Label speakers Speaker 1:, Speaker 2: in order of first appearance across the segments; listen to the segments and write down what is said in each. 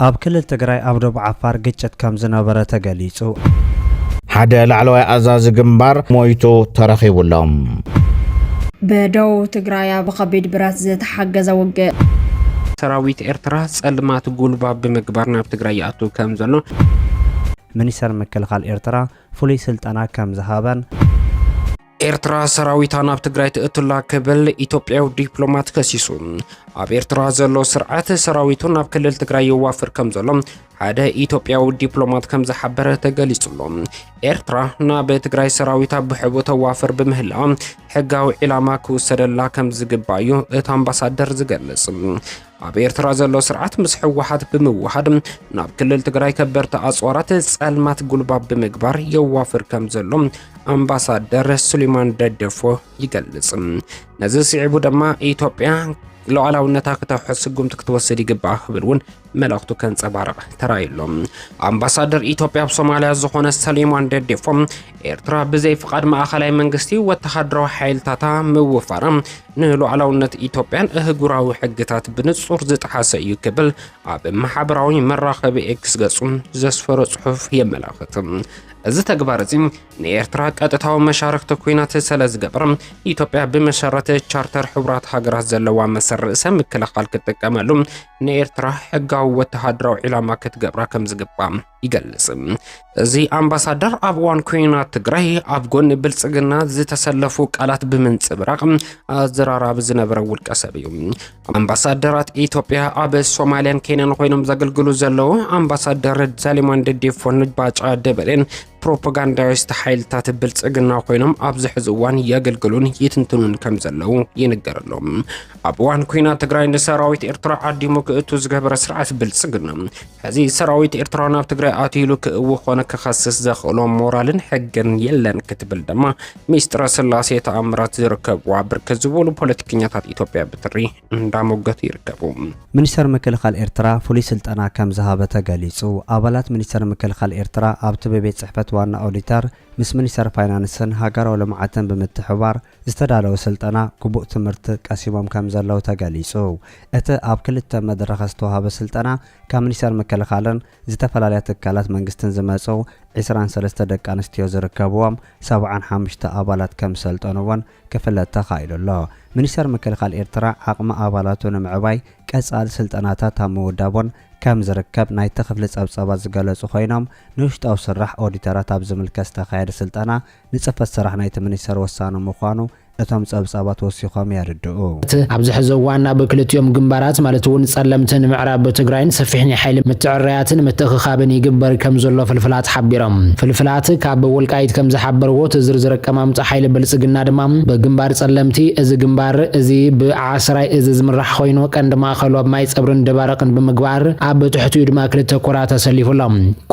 Speaker 1: ኣብ ክልል ትግራይ ኣብ ዶብ ዓፋር ግጭት ከምዝነበረ ተገሊጹ።
Speaker 2: ሓደ ላዕለዋይ ኣዛዚ ግንባር ሞይቱ ተረኺቡ ኣሎ።
Speaker 3: ብደቡብ ትግራያ ብኸቢድ ብረት ዝተሓገዘ ውግእ። ሰራዊት
Speaker 4: ኤርትራ ጸልማት ጉልባብ ብምግባር ናብ ትግራይ ይኣቱ ከም ዘሎ።
Speaker 1: ሚኒስተር ምክልኻል ኤርትራ ፍሉይ ስልጠና ከም ዝሃበን።
Speaker 4: ኤርትራ ሰራዊታ ናብ ትግራይ ትእቱላ ክብል ኢትዮጵያዊ ዲፕሎማት ከሲሱ። ኣብ ኤርትራ ዘሎ ስርዓት ሰራዊቱ ናብ ክልል ትግራይ የዋፍር ከም ዘሎ ሓደ ኢትዮጵያዊ ዲፕሎማት ከም ዝሓበረ ተገሊጹሎ። ኤርትራ ናብ ትግራይ ሰራዊታ ብሕቡ ተዋፍር ብምህላ ሕጋዊ ዒላማ ክውሰደላ ከም ዝግባእ እዩ እቲ ኣምባሳደር ዝገልጽ። ኣብ ኤርትራ ዘሎ ስርዓት ምስ ሕወሓት ብምውሃድ ናብ ክልል ትግራይ ከበርቲ ኣጽዋራት ጸልማት ጉልባብ ብምግባር የዋፍር ከም ዘሎ ኣምባሳደር ሱሌማን ደደፎ ይገልጽ። ነዚ ስዒቡ ድማ ኢትዮጵያ ሉዓላውነታ ክተውሕስ ስጉምቲ ክትወስድ ይግባእ ክብል እውን መልእኽቱ ከንጸባርቕ ተራእዩ ኣሎ። ኣምባሳደር ኢትዮጵያ ኣብ ሶማልያ ዝኾነ ሰሊሞን ደዴፎም ኤርትራ ብዘይ ፍቓድ ማእኸላይ መንግስቲ ወተሃደራዊ ሓይልታታ ምውፋራ ንሉዓላውነት ኢትዮጵያን እህጉራዊ ሕግታት ብንጹር ዝጠሓሰ እዩ ክብል ኣብ ማሕበራዊ መራኸቢ ኤክስ ገጹ ዘስፈሮ ጽሑፍ የመላኽት። እዚ ተግባር እዚ ንኤርትራ ቀጥታዊ መሻርክቲ ኩናት ስለ ዝገብር ኢትዮጵያ ብመሰረት ቻርተር ሕቡራት ሃገራት ዘለዋ መሰል ርእሰ ምክልኻል ክትጥቀመሉ ንኤርትራ ሕጋዊ ወተሃደራዊ ዒላማ ክትገብራ ከም ዝግባእ ይገልጽ። እዚ ኣምባሳደር ኣብ እዋን ኩናት ትግራይ ኣብ ጎኒ ብልጽግና ዝተሰለፉ ቃላት ብምንጽብራቕ ኣዘራራቢ ዝነበረ ውልቀ ሰብ እዩ። ኣምባሳደራት ኢትዮጵያ ኣብ ሶማልያን ኬንያን ኮይኖም ዘገልግሉ ዘለዉ ኣምባሳደር ዛሊማን ደዴፎን ባጫ ደበሌን ፕሮፓጋንዳዊስት ሓይልታት ብልጽግና ኮይኖም ኣብዚ ሕዚ እዋን የገልግሉን ይትንትኑን ከም ዘለዉ ይንገረሎም። ኣብ እዋን ኩናት ትግራይ ንሰራዊት ኤርትራ ዓዲሙ ክእቱ ዝገበረ ስርዓት ብልጽግና ሕዚ ሰራዊት ኤርትራ ናብ ትግራይ ኣትዩ ኢሉ ክእዊ ኮነ ክኸስስ ዘኽእሎ ሞራልን ሕግን የለን ክትብል ድማ ሚስጥረ ስላሴ ተኣምራት ዝርከብዋ ብርክት ዝበሉ ፖለቲከኛታት ኢትዮጵያ ብትሪ እንዳሞገቱ ይርከቡ። ሚኒስተር ምክልኻል
Speaker 1: ኤርትራ ፍሉይ ስልጠና ከም ዝሃበ ተገሊጹ። ኣባላት ሚኒስተር ምክልኻል ኤርትራ ኣብቲ ብቤት ጽሕፈት ዋና ኦዲተር ምስ ሚኒስተር ፋይናንስን ሃገራዊ ልምዓትን ብምትሕብባር ዝተዳለወ ስልጠና ግቡእ ትምህርቲ ቀሲሞም ከምዘለዉ ተገሊፁ። እቲ ኣብ ክልተ መድረኸ ዝተውሃበ ስልጠና ካብ ሚኒስቴር ምክልኻልን ዝተፈላለያ ትካላት መንግስትን ዝመፁ ዕስራን ሰለስተ ደቂ ኣንስትዮ ዝርከብዎም ሰብዓን ሓሙሽተ ኣባላት ከምዝሰልጠኑ እውን ክፍለጥ ተኻኢሉ ኣሎ። ሚኒስቴር ምክልኻል ኤርትራ ዓቕሚ ኣባላቱ ንምዕባይ ቀፃሊ ስልጠናታት ኣብ ምውዳቡን ከምዝርከብ ናይቲ ክፍሊ ፀብፃባት ዝገለፁ ኮይኖም ንውሽጣዊ ስራሕ ኦዲተራት ኣብ ዝምልከት ዝተኻየደ ስልጠና ንጽፈት ስራሕ ናይቲ ሚኒስተር ወሳኒ ምዃኑ እቶም ጸብጻባት ወሲኾም የርድኡ። እቲ ኣብዚ ሕዚ
Speaker 5: እዋን ኣብ ክልቲኦም ግንባራት ማለት እውን ጸለምትን ምዕራብ ትግራይን ሰፊሕ ናይ ሓይሊ ምትዕርራያትን ምትእኽኻብን ይግበር ከም ዘሎ ፍልፍላት ሓቢሮም። ፍልፍላት ካብ ወልቃይት ከም ዝሓበርዎ እቲ ዝርዝር ኣቀማምጣ ሓይሊ ብልጽግና ድማ ብግንባር ጸለምቲ፣ እዚ ግንባር እዚ ብዓስራይ እዝ ዝምራሕ ኾይኑ ቀንዲ ማእኸሉ ኣብ ማይጸብሪን ደባርቕን ብምግባር ኣብ ትሕቲኡ ድማ ክልተ ኮራት ኣሰሊፉ ኣሎ።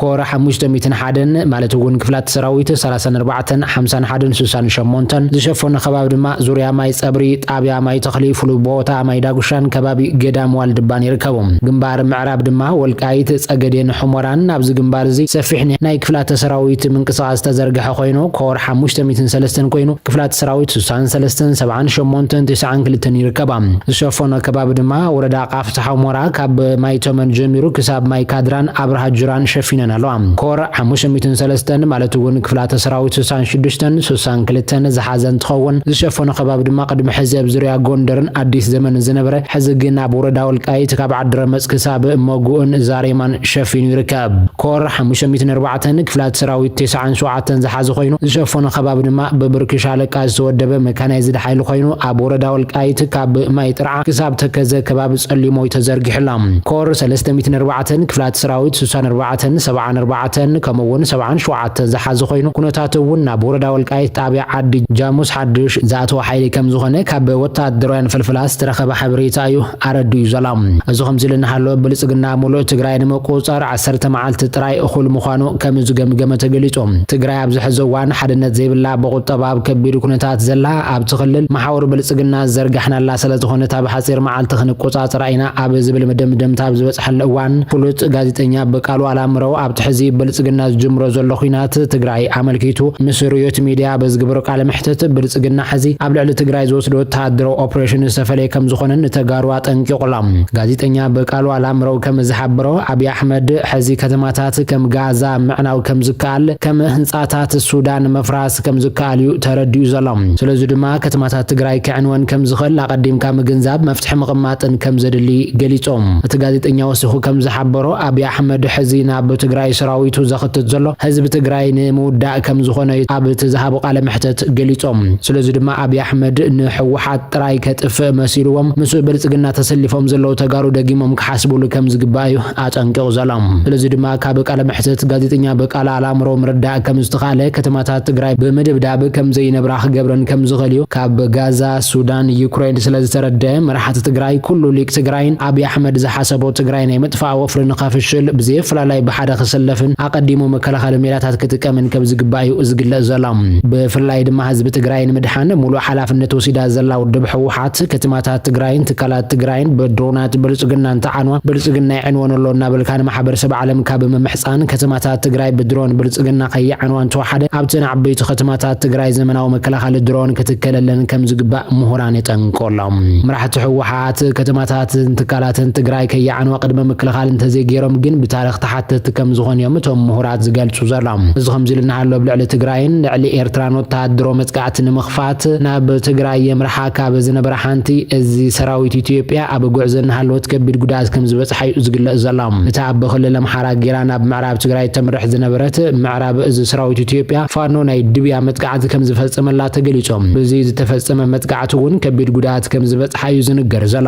Speaker 5: ኮር ሓሙሽተ ሚእትን ሓደን ማለት እውን ክፍላ ሰራዊት ሰላሳን ኣርባዕተን ሓምሳን ሓደን ስሳን ሸሞንተን ዝሸፈኖ ከባቢ ድማ ዙርያ ማይ ፀብሪ፣ ጣብያ ማይ ተኽሊ፣ ፍሉይ ቦታ ማይ ዳጉሻን ከባቢ ገዳም ዋልድባን ይርከቡ። ግንባር ምዕራብ ድማ ወልቃይት፣ ፀገዴን ሑመራን ኣብዚ ግንባር እዚ ሰፊሕ ናይ ክፍላተ ሰራዊት ምንቅስቓስ ዝተዘርገሐ ኮይኑ ኮር ሓሙሽተ ሚእትን ሰለስተን ኮይኑ ክፍላተ ሰራዊት ስሳን ሰለስተን ሰብዓን ሸሞንተን ትስዓን ክልተን ይርከባ። ዝሸፈኖ ከባቢ ድማ ወረዳ ቃፍ፣ ፍትሓዊ ሞራ ካብ ማይ ተመን ጀሚሩ ክሳብ ማይ ካድራን ኣብርሃ ጁራን ሸፊነን ኣለዋ። ኮር ሓሙሽተ ሚእትን ሰለስተን ማለት እውን ክፍላተ ሰራዊት ስሳን ሽዱሽተን፣ ስሳን ክልተን፣ ዝሓዘ እንትኸውን ዝሸፈኖ ከባቢ ድማ ቅድሚ ሕዚ ኣብ ዙርያ ጎንደርን ኣዲስ ዘመንን ዝነበረ ሕዚ ግን ኣብ ወረዳ ወልቃይት ካብ ዓዲረመፅ ክሳብ መጉእን ዛሬማን ሸፊኑ ይርከብ። ኮር ሓሙሽተ ሚእትን ኣርባዕተን ክፍላተ ሰራዊት ቴስዓን ሸውዓተን ዝሓዘ ኮይኑ ዝሸፈኖ ከባቢ ድማ ብብርኪ ሻለቃ ዝተወደበ መካናይዝድ ሓይሊ ኮይኑ ኣብ ወረዳ ወልቃይት ካብ ማይ ጥርዓ፣ ክሳብ ተከዘ ከባቢ ጸሊሞይ ተዘርጊሑላ። ኮር ሰለስተ ሚእትን ኣርባዕተን፣ ክፍላተ ሰራዊት ሱሳን ኣርባዕተን፣ ሰብዓን ኣርባዕተን፣ ከምኡ'ውን ሰብዓን ሸውዓተን ዝሓዘ ኮይኑ፣ ኩነታቱ እውን ናብ ወረዳ ወልቃይት ጣብያ ዓዲ ጃሙስ ሓዱሽ ዝኣተወ ሓይሊ ከምዝኾነ ካብ ወተሃደራውያን ፍልፍላት ዝተረኸበ ሓበሬታ እዩ ኣረዲኡ ዘላ። እዚ ከምዚ'ሉ እናሃለወ ብልጽግና ሙሉእ ትግራይ ንምቁጽጻር ዓሰርተ መዓልቲ ጥራይ እኹል ምዃኑ ከም ዝገምገመ ተገሊፁ። ትግራይ ኣብዚ ሕዚ እዋን ሓድነት ዘይብላ ብቑጠባ ኣብ ከቢድ ኩነታት ዘላ ኣብቲ ክልል መሓውር ብልፅግና ዝዘርጋሕናላ ሰለዝኾነት ኣብ ሓፂር መዓልቲ ክንቆፃፀራ ኢና ኣብ ዝብል መደምደምታ ኣብ ዝበፅሐሉ እዋን ፍሉጥ ጋዜጠኛ ብቃሉ ኣላምረው ኣብቲ ሕዚ ብልፅግና ዝጅምሮ ዘሎ ኹናት ትግራይ ኣመልኪቱ ምስ ርዮት ሚድያ ኣብ ዝገበሮ ቃለ መሕትት ብልፅግና ሕዚ ኣብ ልዕሊ ትግራይ ዝወስዶ ወተሃደራዊ ኦፕሬሽን ዝተፈለየ ከምዝኾነ ንተጋሩ ኣጠንቂቑ ኣሎ። ጋዜጠኛ ብቃሉ ኣላምረው ከም ዝሓበሮ ኣብይ ኣሕመድ፣ ሕዚ ከተማታት ከም ጋዛ ምዕናው ከም ዝከኣል፣ ከም ህንጻታት ሱዳን ምፍራስ ከም ዝከኣል'ዩ ተረዲኡ ዘሎ። ስለዚ ድማ ከተማታት ትግራይ ክዕንወን ከም ዝኽእል ኣቐዲምካ ምግንዛብ፣ መፍትሒ ምቕማጥን ከም ዘድሊ ገሊጹ። እቲ ጋዜጠኛ ወሲኹ ከም ዝሓበሮ፣ ኣብይ ኣሕመድ ሕዚ ናብ ትግራይ ሰራዊቱ ዘኽትት ዘሎ፣ ህዝቢ ትግራይ ንምውዳእ ከም ዝኾነ'ዩ ኣብ'ቲ ዝሃቦ ቃለ መሕተት ገሊጹ። ስለዚ ድማ። ኣብይ ኣሕመድ ንሕወሓት ጥራይ ከጥፍእ መሲልዎም ምስ ብልፅግና ተሰሊፎም ዘለዉ ተጋሩ ደጊሞም ክሓስብሉ ከምዝግባእ እዩ ኣጠንቂቑ ዘሎ። ስለዚ ድማ ካብ ቃለ መሕትት ጋዜጠኛ በቃላ ኣላምረው ምርዳእ ከምዝተኽኣለ ከተማታት ትግራይ ብምድብዳብ ከምዘይነብራ ክገብረን ከምዝኽእል እዩ። ካብ ጋዛ፣ ሱዳን፣ ዩክሬን ስለዝተረድኣ መራሕቲ ትግራይ ኩሉ ሊቅ ትግራይን ኣብይ ኣሕመድ ዝሓሰቦ ትግራይ ናይ ምጥፋእ ወፍሪ ንኸፍሽል ብዘየፈላላይ ብሓደ ክስለፍን ኣቐዲሙ መከላኸሊ ሜላታት ክጥቀምን ከም ዝግባእ እዩ ዝግለጽ ዘሎ። ብፍላይ ድማ ህዝቢ ትግራይ ንምድሓን ሙሉእ ሓላፍነት ወሲዳ ዘላ ውድብ ህወሓት፣ ክትማታት ትግራይን ትካላት ትግራይን ብድሮናት ብልጽግና እንተዓንዋ ብልጽግና ይዕንወን ኣሎ እናበልካ ንማሕበረሰብ ዓለምካ ብምምሕጻን ከተማታት ትግራይ ብድሮን ብልጽግና ከይዓንዋ እንተወሓደ ኣብተን ዓበይቲ ከተማታት ትግራይ ዘመናዊ መከላኸሊ ድሮን ክትከለለን ከም ዝግባእ ምሁራን የጠንቅቑ ኣለው። መራሕቲ ህወሓት ከተማታትን ትካላትን ትግራይ ከይዓንዋ ቅድመ ምክልኻል እንተዘይገይሮም ግን ብታሪኽ ተሓተቲ ከምዝኾኑ እዮም እቶም ምሁራት ዝገልፁ ዘሎም። እዚ ከምዚ ኢሉ እናሃሎ ኣብ ልዕሊ ትግራይን ልዕሊ ኤርትራን ወተሃደሮ መፅቃዕቲ ንምኽፋት ናብ ትግራይ የምርሓ ካብ ዝነበራ ሓንቲ እዚ ሰራዊት ኢትዮጵያ ኣብ ጉዕዞ እናሃለወት ከቢድ ጉድኣት ከምዝበፅሓ እዩ ዝግለፅ ዘሎ። እታ ኣብ ክልል ኣምሓራ ገይራ ናብ ምዕራብ ትግራይ እተምርሕ ዝነበረት ምዕራብ እዝ ሰራዊት ኢትዮጵያ ፋኖ ናይ ድብያ መጥቃዕቲ ከምዝፈፀመላ ተገሊፁ። ብዚ ዝተፈፀመ መጥቃዕቲ እውን ከቢድ ጉድኣት ከምዝበፅሓ እዩ ዝንገር ዘሎ።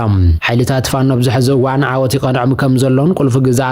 Speaker 5: ሓይልታት ፋኖ ኣብዚ ሕዚ እዋን ዓወት ይቐንዖም ከምዘሎን ቁልፊ ግዝኣት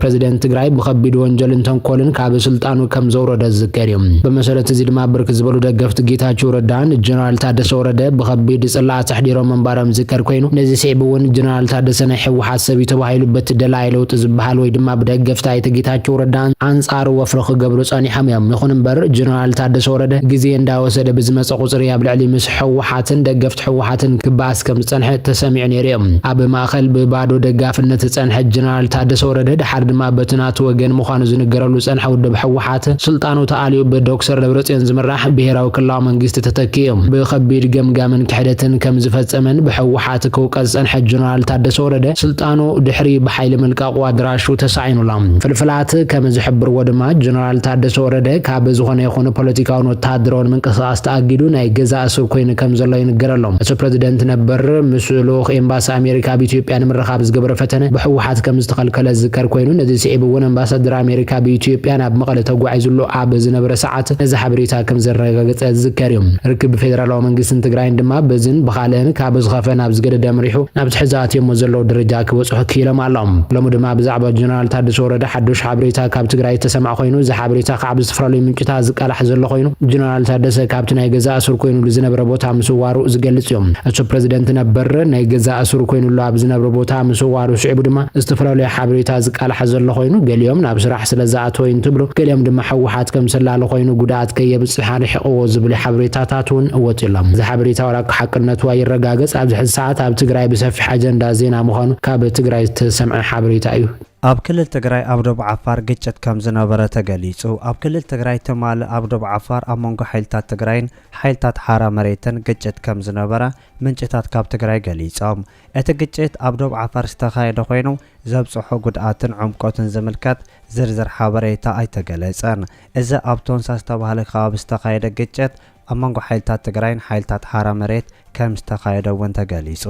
Speaker 5: ፕረዚደንት ትግራይ ብኸቢድ ወንጀልን ተንኮልን ካብ ስልጣኑ ከም ዘውረደ ዝዝከር እዩ። ብመሰረት እዚ ድማ ብርክት ዝበሉ ደገፍቲ ጌታቸው ረዳ ንጀነራል ታደሰ ወረደ ብኸቢድ ፅለኣት ኣሕዲሮም ምንባሮም ዝዝከር ኮይኑ ነዚ ስዒቡ እውን ጀነራል ታደሰ ናይ ህወሓት ሰብ እዩ ተባሂሉ በቲ ደላዪ ለውጢ ዝበሃል ወይ ድማ ብደገፍቲ ኣይተ ጌታቸው ረዳ ኣንፃሩ ወፍሪ ክገብሩ ፀኒሖም እዮም። ይኹን እምበር ጀነራል ታደሰ ወረደ ግዜ እንዳወሰደ ብዝመፀ ቁፅሪ ኣብ ልዕሊ ህወሓትን ደገፍቲ ህወሓትን ክበኣስ ከም ዝጸንሐ ተሰሚዑ ነይሩዮ። ኣብ ማእከል ብባዶ ደጋፍነት ዝጸንሐ ጀነራል ታደሰ ወረደ ደሓር ድማ በቲ ናቱ ወገን ምዃኑ ዝንገረሉ ዝጸንሐ ውድብ ህወሓት ስልጣኑ ተኣልዩ ብዶክሰር ደብረጽዮን ዝምራሕ ብሄራዊ ክልላዊ መንግስቲ ተተኪኡ ብኸቢድ ገምጋምን ክሕደትን ከም ዝፈጸመን ብህወሓት ክውቀስ ዝጸንሐ ጀነራል ታደሰ ወረደ ስልጣኑ ድሕሪ ብሓይሊ ምልቃቑ ኣድራሹ ተሳዒኑሎ። ፍልፍላት ከም ዝሕብርዎ ድማ ጀነራል ታደሰ ወረደ ካብ ዝኾነ ይኹን ፖለቲካውን ወተሃደራውን ምንቅስቓስ ተኣጊዱ ናይ ገዛ እሱር ኮይኑ ከም ዘሎ ይንገር ኣሎ። እቲ ፕረዚደንት ነበር ምስ ልኡኽ ኤምባሲ ኣሜሪካ ኣብ ኢትዮጵያ ንምርኻብ ዝገበሮ ፈተነ ብህወሓት ከም ዝተኸልከለ ዝዝከር ኮይኑ ነዚ ስዒቡ እውን ኣምባሳደር ኣሜሪካ ብኢትዮጵያ ናብ መቐለ ተጓዒዙሉ ኣብ ዝነበረ ሰዓት ነዚ ሓበሬታ ከም ዘረጋገፀ ዝዝከር እዩ። ርክብ ብፌደራላዊ መንግስትን ትግራይን ድማ በዝን ብኻልእን ካብ ዝኸፍአ ናብ ዝገደደ ኣምሪሑ ናብቲ ሕዚ ኣትዮሞ ዘለዉ ደረጃ ክበፅሑ ክኢሎም ኣሎም። ሎሚ ድማ ብዛዕባ ጀነራል ታደሰ ወረደ ሓዱሽ ሓበሬታ ካብ ትግራይ ዝተሰምዐ ኮይኑ እዚ ሓበሬታ ኣብ ዝተፈላለዩ ምንጭታት ዝቃላሕ ዘሎ ኮይኑ፣ ጀነራል ታደሰ ካብቲ ናይ ገዛእ እሱር ኮይኑሉ ዝነብረ ቦታ ምስዋሩ ዝገልጽ እዩ። እቱ ፕረዚደንት ነበር ናይ ገዛእ እሱር ኮይኑሉ ኣብ ዝነብረ ቦታ ምስዋሩ ስዒቡ ድማ ዝተፈላለዩ ሓበሬታ ዝቃላሕ ዘሎ ኮይኑ፣ ገሊኦም ናብ ስራሕ ስለዝኣተወ እዩ እንትብሉ፣ ገሊኦም ድማ ህወሓት ከምሰላሊ ኮይኑ ጉድኣት ከየብፅሕ ኣርሒቕዎ ዝብሉ ሓበሬታታት እውን ወፅዩ ኣሎ። እዚ ሓበሬታ ዋላ እኳ ሓቅነቱ ኣይረጋገፅ ኣብዚ ሕዚ ሰዓት ኣብ ትግራይ ብሰፊሕ ኣጀንዳ ዜና ምዃኑ ካብ ትግራይ ዝተሰምዐ ሓበሬታ እዩ። ኣብ ክልል ትግራይ
Speaker 1: ኣብ ዶብ ዓፋር ግጭት ከም ዝነበረ ተገሊጹ። ኣብ ክልል ትግራይ ትማሊ ኣብ ዶብ ዓፋር ኣብ መንጎ ሓይልታት ትግራይን ሓይልታት ሓራ መሬትን ግጭት ከም ዝነበረ ምንጭታት ካብ ትግራይ ገሊጾም። እቲ ግጭት ኣብ ዶብ ዓፋር ዝተኻየደ ኮይኑ ዘብጽሖ ጉድኣትን ዕምቆትን ዝምልከት ዝርዝር ሓበሬታ ኣይተገለጸን። እዚ ኣብ ቶንሳ ዝተባህለ ከባቢ ዝተኻየደ ግጭት ኣብ መንጎ ሓይልታት ትግራይን ሓይልታት ሓራ መሬት ከም ዝተኻየደ እውን ተገሊጹ።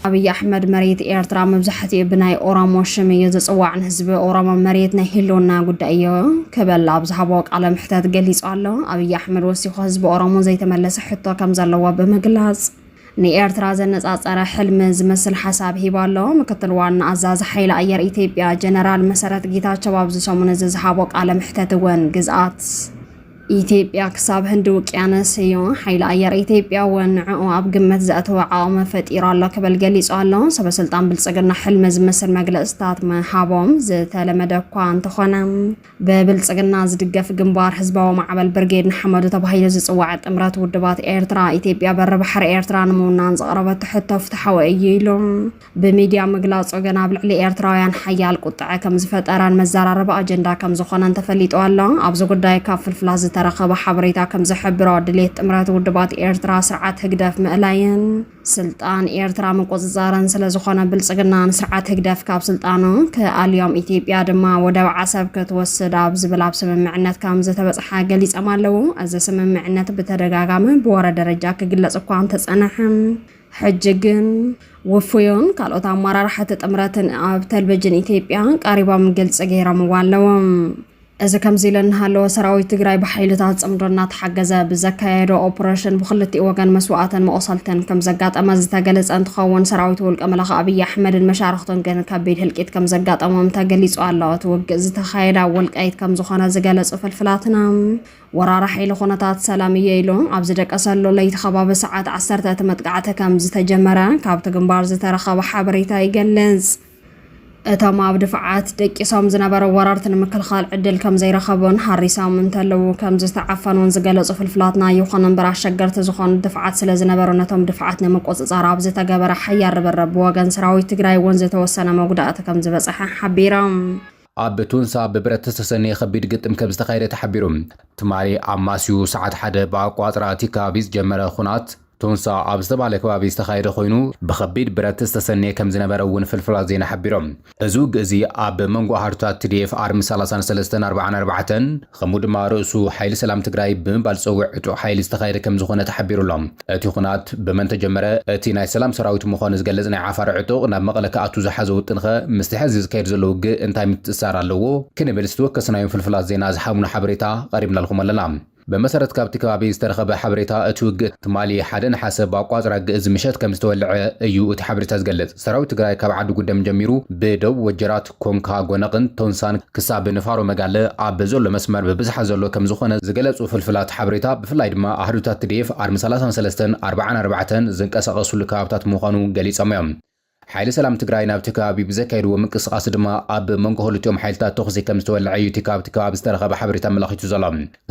Speaker 3: ኣብይ ኣሕመድ መሬት ኤርትራ መብዛሕትኡ ብናይ ኦሮሞ ሽም እዩ ዝፅዋዕ ንህዝቢ ኦሮሞ መሬት ናይ ህልውና ጉዳይ እዩ ክበል ኣብ ዝሃቦ ቃለ ምሕተት ገሊፁ ኣሎ ኣብይ ኣሕመድ ወሲኹ ህዝቢ ኦሮሞ ዘይተመለሰ ሕቶ ከም ዘለዎ ብምግላፅ ንኤርትራ ዘነጻጸረ ሕልሚ ዝመስል ሓሳብ ሂቡ ኣሎ። ምክትል ዋና ኣዛዚ ሓይሊ ኣየር ኢትዮጵያ ጀነራል መሰረት ጌታቸው ኣብዚ ሰሙን እዚ ዝሃቦ ቃለ መሕተት እውን ግዝኣት ኢትዮጵያ ክሳብ ህንዲ ውቅያነስ እዩ። ሓይሊ ኣየር ኢትዮጵያ እውን ንዕኡ ኣብ ግምት ዘእተወ ዓቕሚ ፈጢሩ ኣሎ ክብል ገሊጹ ኣሎ። ሰበስልጣን ብልጽግና ሕልሚ ዝመስል መግለጽታት ምሃቦም ዝተለመደ እኳ እንተኾነ ብብልጽግና ዝድገፍ ግንባር ህዝባዊ ማዕበል ብርጌድ ንሓመዱ ተባሂሉ ዝጽዋዕ ጥምረት ውድባት ኤርትራ ኢትዮጵያ በሪ ባሕሪ ኤርትራ ንምውናን ዘቕረበቶ ሕቶ ፍትሓዊ እዩ ኢሉ። ብሚድያ ምግላጹ ግን ኣብ ልዕሊ ኤርትራውያን ሓያል ቁጥዐ ከም ዝፈጠረን መዘራረቢ ኣጀንዳ ከም ዝኾነን ተፈሊጡ ኣሎ። ኣብዚ ጉዳይ ካብ ፍልፍላት ዝተረኸበ ሓበሬታ ከም ዝሕብሮ ድሌት ጥምረት ውድባት ኤርትራ ስርዓት ህግደፍ ምእላይን ስልጣን ኤርትራ ምቁጽጻርን ስለ ዝኾነ ብልጽግና ንስርዓት ህግደፍ ካብ ስልጣኑ ክኣልዮም ኢትዮጵያ ድማ ወደብ ዓሰብ ክትወስድ ኣብ ዝብል ኣብ ስምምዕነት ከም ዝተበጽሓ ገሊጾም ኣለዉ። እዚ ስምምዕነት ብተደጋጋሚ ብወረ ደረጃ ክግለጽ እኳ እንተጸንሐ ሕጂ ግን ውፉዩን ካልኦት ኣመራርሓቲ ጥምረትን ኣብ ተልቨጅን ኢትዮጵያ ቀሪቦም ግልፂ ገይሮምዎ ኣለዎም። እዚ ከምዚ ኢለ እናሃለወ ሰራዊት ትግራይ ብሓይልታት ፅምዶ እናተሓገዘ ብዘካየዶ ኦፕሬሽን ብክልቲኡ ወገን መስዋእትን መቑሰልትን ከም ዘጋጠመ ዝተገለፀ እንትኸውን ሰራዊት ውልቀ መላኺ ኣብይ ኣሕመድን መሻርኽቱን ግን ከቢድ ህልቂት ከም ዘጋጠሞም ተገሊፁ ኣሎ። እቲ ውግእ ዝተኻየደ ኣብ ወልቃይት ከም ዝኾነ ዝገለፁ ፍልፍላትና ወራሪ ሓይሊ ኩነታት ሰላም እየ ኢሉ ኣብ ዝደቀሰሉ ለይቲ ከባቢ ሰዓት ዓሰርተ እቲ መጥቃዕቲ ከም ዝተጀመረ ካብቲ ግንባር ዝተረኸበ ሓበሬታ ይገልጽ። እቶም ኣብ ድፋዓት ደቂሶም ዝነበሩ ወረርቲ ንምክልኻል ዕድል ከም ዘይረኸቡን ሃሪሶም እንተለዉ ከም ዝተዓፈኑን ዝገለጹ ፍልፍላትና ይኹን እምበር ኣሸገርቲ ዝኾኑ ድፋዓት ስለ ዝነበሩ ነቶም ድፋዓት ንምቁጽጻር ኣብ ዝተገበረ ሓያል ርብርብ ብወገን ሰራዊት ትግራይ እውን ዝተወሰነ መጉዳእቲ ከም ዝበጽሐ ሓቢሮም። ኣብ
Speaker 6: ቱንሳ ብብረት ዝተሰነየ ከቢድ ግጥም ከምዝተኻየደ ተሓቢሩ። ትማሊ ኣማስዩ ሰዓት ሓደ ብኣቆፃፅራ ቲካቪ ዝጀመረ ኹናት ቱንሳ ኣብ ዝተብሃለ ከባቢ ዝተኻየደ ኮይኑ ብከቢድ ብረት ዝተሰነየ ከምዝነበረ እውን ፍልፍላት ዜና ሓቢሮም። እዚ ውግእ እዚ ኣብ መንጎ ሃርታት ትዲኤፍ ኣርሚ ሰላሳን ሰለስተን ኣርብዓን ኣርባዕተን፣ ከምኡ ድማ ርእሱ ሓይሊ ሰላም ትግራይ ብምባል ዝፀውዕ ዕጡቕ ሓይሊ ዝተኻየደ ከምዝኾነ ተሓቢሩ ኣሎ። እቲ ኹናት ብመን ተጀመረ? እቲ ናይ ሰላም ሰራዊት ምዃኑ ዝገልፅ ናይ ዓፋር ዕጡቕ ናብ መቐለ ክኣቱ ዝሓዞ ውጥንኸ ምስቲ ሐዚ ዝካየድ ዘሎ ውግእ እንታይ ምትእስሳር ኣለዎ? ክንብል ዝተወከስናዮም ፍልፍላት ዜና ዝሓብኑ ሓበሬታ ቐሪብናልኹም ኣለና። ብመሰረት ካብቲ ከባቢ ዝተረኸበ ሓበሬታ እቲ ውግእ ትማሊ ሓደ ነሓሰ ብኣቋፅራ ግእዝ ምሸት ከምዝተወልዐ እዩ እቲ ሓበሬታ ዝገልፅ። ሰራዊት ትግራይ ካብ ዓዲ ጉደም ጀሚሩ ብደቡብ ወጀራት፣ ኮንካ ጎነቕን ቶንሳን ክሳብ ንፋሮ መጋለ ኣብ ዘሎ መስመር ብብዝሓ ዘሎ ከምዝኾነ ዝገለፁ ፍልፍላት ሓበሬታ ብፍላይ ድማ ኣሃዱታት ትዲኤፍ ኣርሚ ሰላሳን ሰለስተን ኣርብዓን ኣርባዕተን ዝንቀሳቐስሉ ከባብታት ምዃኑ ገሊፆም እዮም። ሓይሊ ሰላም ትግራይ ናብቲ ከባቢ ብዘካየድዎ ምንቅስቓስ ድማ ኣብ መንጎ ክልቲኦም ሓይልታት ተኹሲ ከምዝተወለዐ እዩ እቲ ካብቲ ከባቢ ዝተረኸበ ሓበሬታ ኣመላኺቱ ዘሎ።